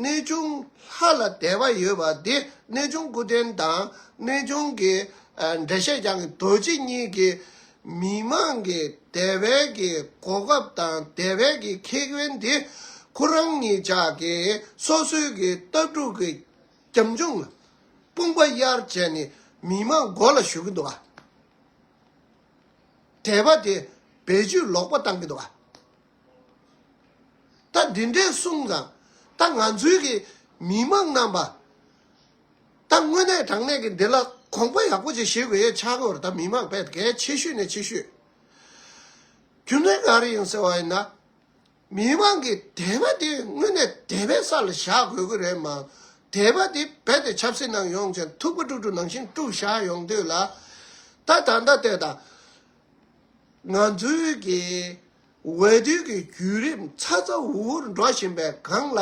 གནས་ཆུང་ལྷ་ལ་དད་པ་ཡོད་པ་དེ་གནས་ཆུང་སྐུ་རྟེན་དང་གནས་ཆུང་གི་འགྲེལ་བཤད་རྒྱང་གི་རྡོ་རྗེ་གཉིས་ཀྱི་མི་དམངས་ཀྱི་དད་པའི་གི་གོ་སྐབས་དང་དད་པའི་གི་ཁེ་ཕན་དེ་ཁོ་རང་ཉིད་ཅག་གི་སོ་སོའི་གི་ལྟ་གྲུབ་ཀྱི། རྒྱབ་ལྗོངས་དཔུང་པ་གཡར་བྱས་ནས་མི་དམངས་མགོ་ལ་ཞུ་གི་འདུག་བྲེལ་བ་དེ་བེད་སྤྱོད་ལོག་པ་བཏང་གི་འདུག་ད་འདི་འདྲའི་གསུངས་ཙང་ད་ང་ཚོའི་གི་མི་དམངས་རྣམས་པ་ད་དངོས་གནས་དྲང་གནས་ཀྱི་འདི་ལ་གོང་པ་ཡག་པོ་ཅིག་བྱེད་དགོས་ཡས་ཆགས་གོ་ད་མི་དམངས་བད་གལ་ཆེ་ཤོས་ནས་ཆེ་ཤོས་རྒྱུ་མཚན་ག་རེ་ཡིན་ཟེར་བ་ཡིན་ན། མི་མང་གིས་དད་པ་དེ་དངོས་གནས་དད་པའི་ས་ལ་བཞག་དགོས་ཀྱི་རེད་མང། དད་པ་དེ་རྦད་དེ་ཆབ་སྲིད་ནང་ཡོང་ཅིང་ཐུག་པ་དཀྲུག་དཀྲུག་ནང་བཞིན་དཀྲུག་བཞག་ཡོང་དུས་ལ། ད་ད་ལྟ་ལྟས་དང། ང་ཚོའི་གི་འོས་བསྡུ་གི་བརྒྱུད་རིམ་ཚ་ཚ་འུར་འུར་འགྲོ་བཞིན་པའི་སྒང་ལ།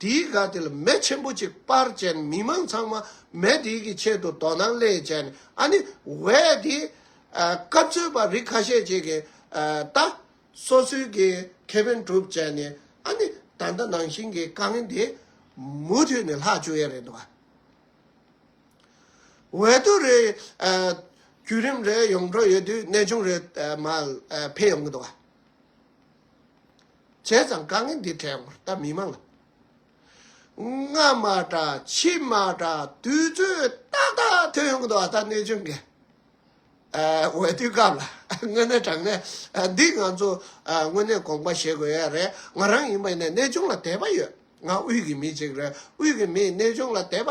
དེའི་སྒ་དེ་ལ་མེ་ཆེན་པོ་ཅིག་སྤར་རྗེས་མི་མང་ཚང་མ་མེ་དེའི་གི་ཆེད་དུ་དོ་སྣང་སླད་བྱས་ནས་ཨ་ནི་འོས་དེ། སྐབས་འཚོལ་བ་རིགས་ཁ་ཤས་ཅིག་གིས་ད། སོ་སོའི་གི་ཁེ་ཕན་སྒྲུབ་བྱས་ནས་ཨ་ནི་ད་ལྟ་ནང་བཞིན་གི་དཀའ་ངལ་འདི་མུ་མཐུད་ནས་ལྷག་བཅུག་ཡ་རེད་འདུག་བ། འོད་དུ་རེ། བརྒྱུད་རིམ་རེ་ཡོང་འགྲོ་ཡོད་དུས་གནས་ཆུང་རེ་མ་འཕེལ་ཡོང་གི་འདུག་བ། བྱས་ཙང་དཀའ་ངལ་འདི་བྲལ་བར་ད་མི་མང་ལ། སྔ་མ་འདྲ་ཕྱི་མ་འདྲ་དུས་ཚོད་ཏག་ཏག་ཐོན་ཡོང་གི་འདུག་བ་ད་གནས་ཆུང་གི། འོས་བསྡུའི་སྐབས་ལ་དངོས་གནས་དྲང་གནས་འདི་ང་ཚོ་དངོས་གནས་དགོངས་པ་བཞེས་དགོས་ཡས་རེད་ང་རང་ཡིན་པ་ཡིན་ནའི་གནས་ཆུང་ལ་དད་པ་ཡོད་ང་དབུས་ཀྱི་མི་ཅིག་རེད་དབུས་ཀྱི་མིས་གནས་ཆུང་ལ་དད་པ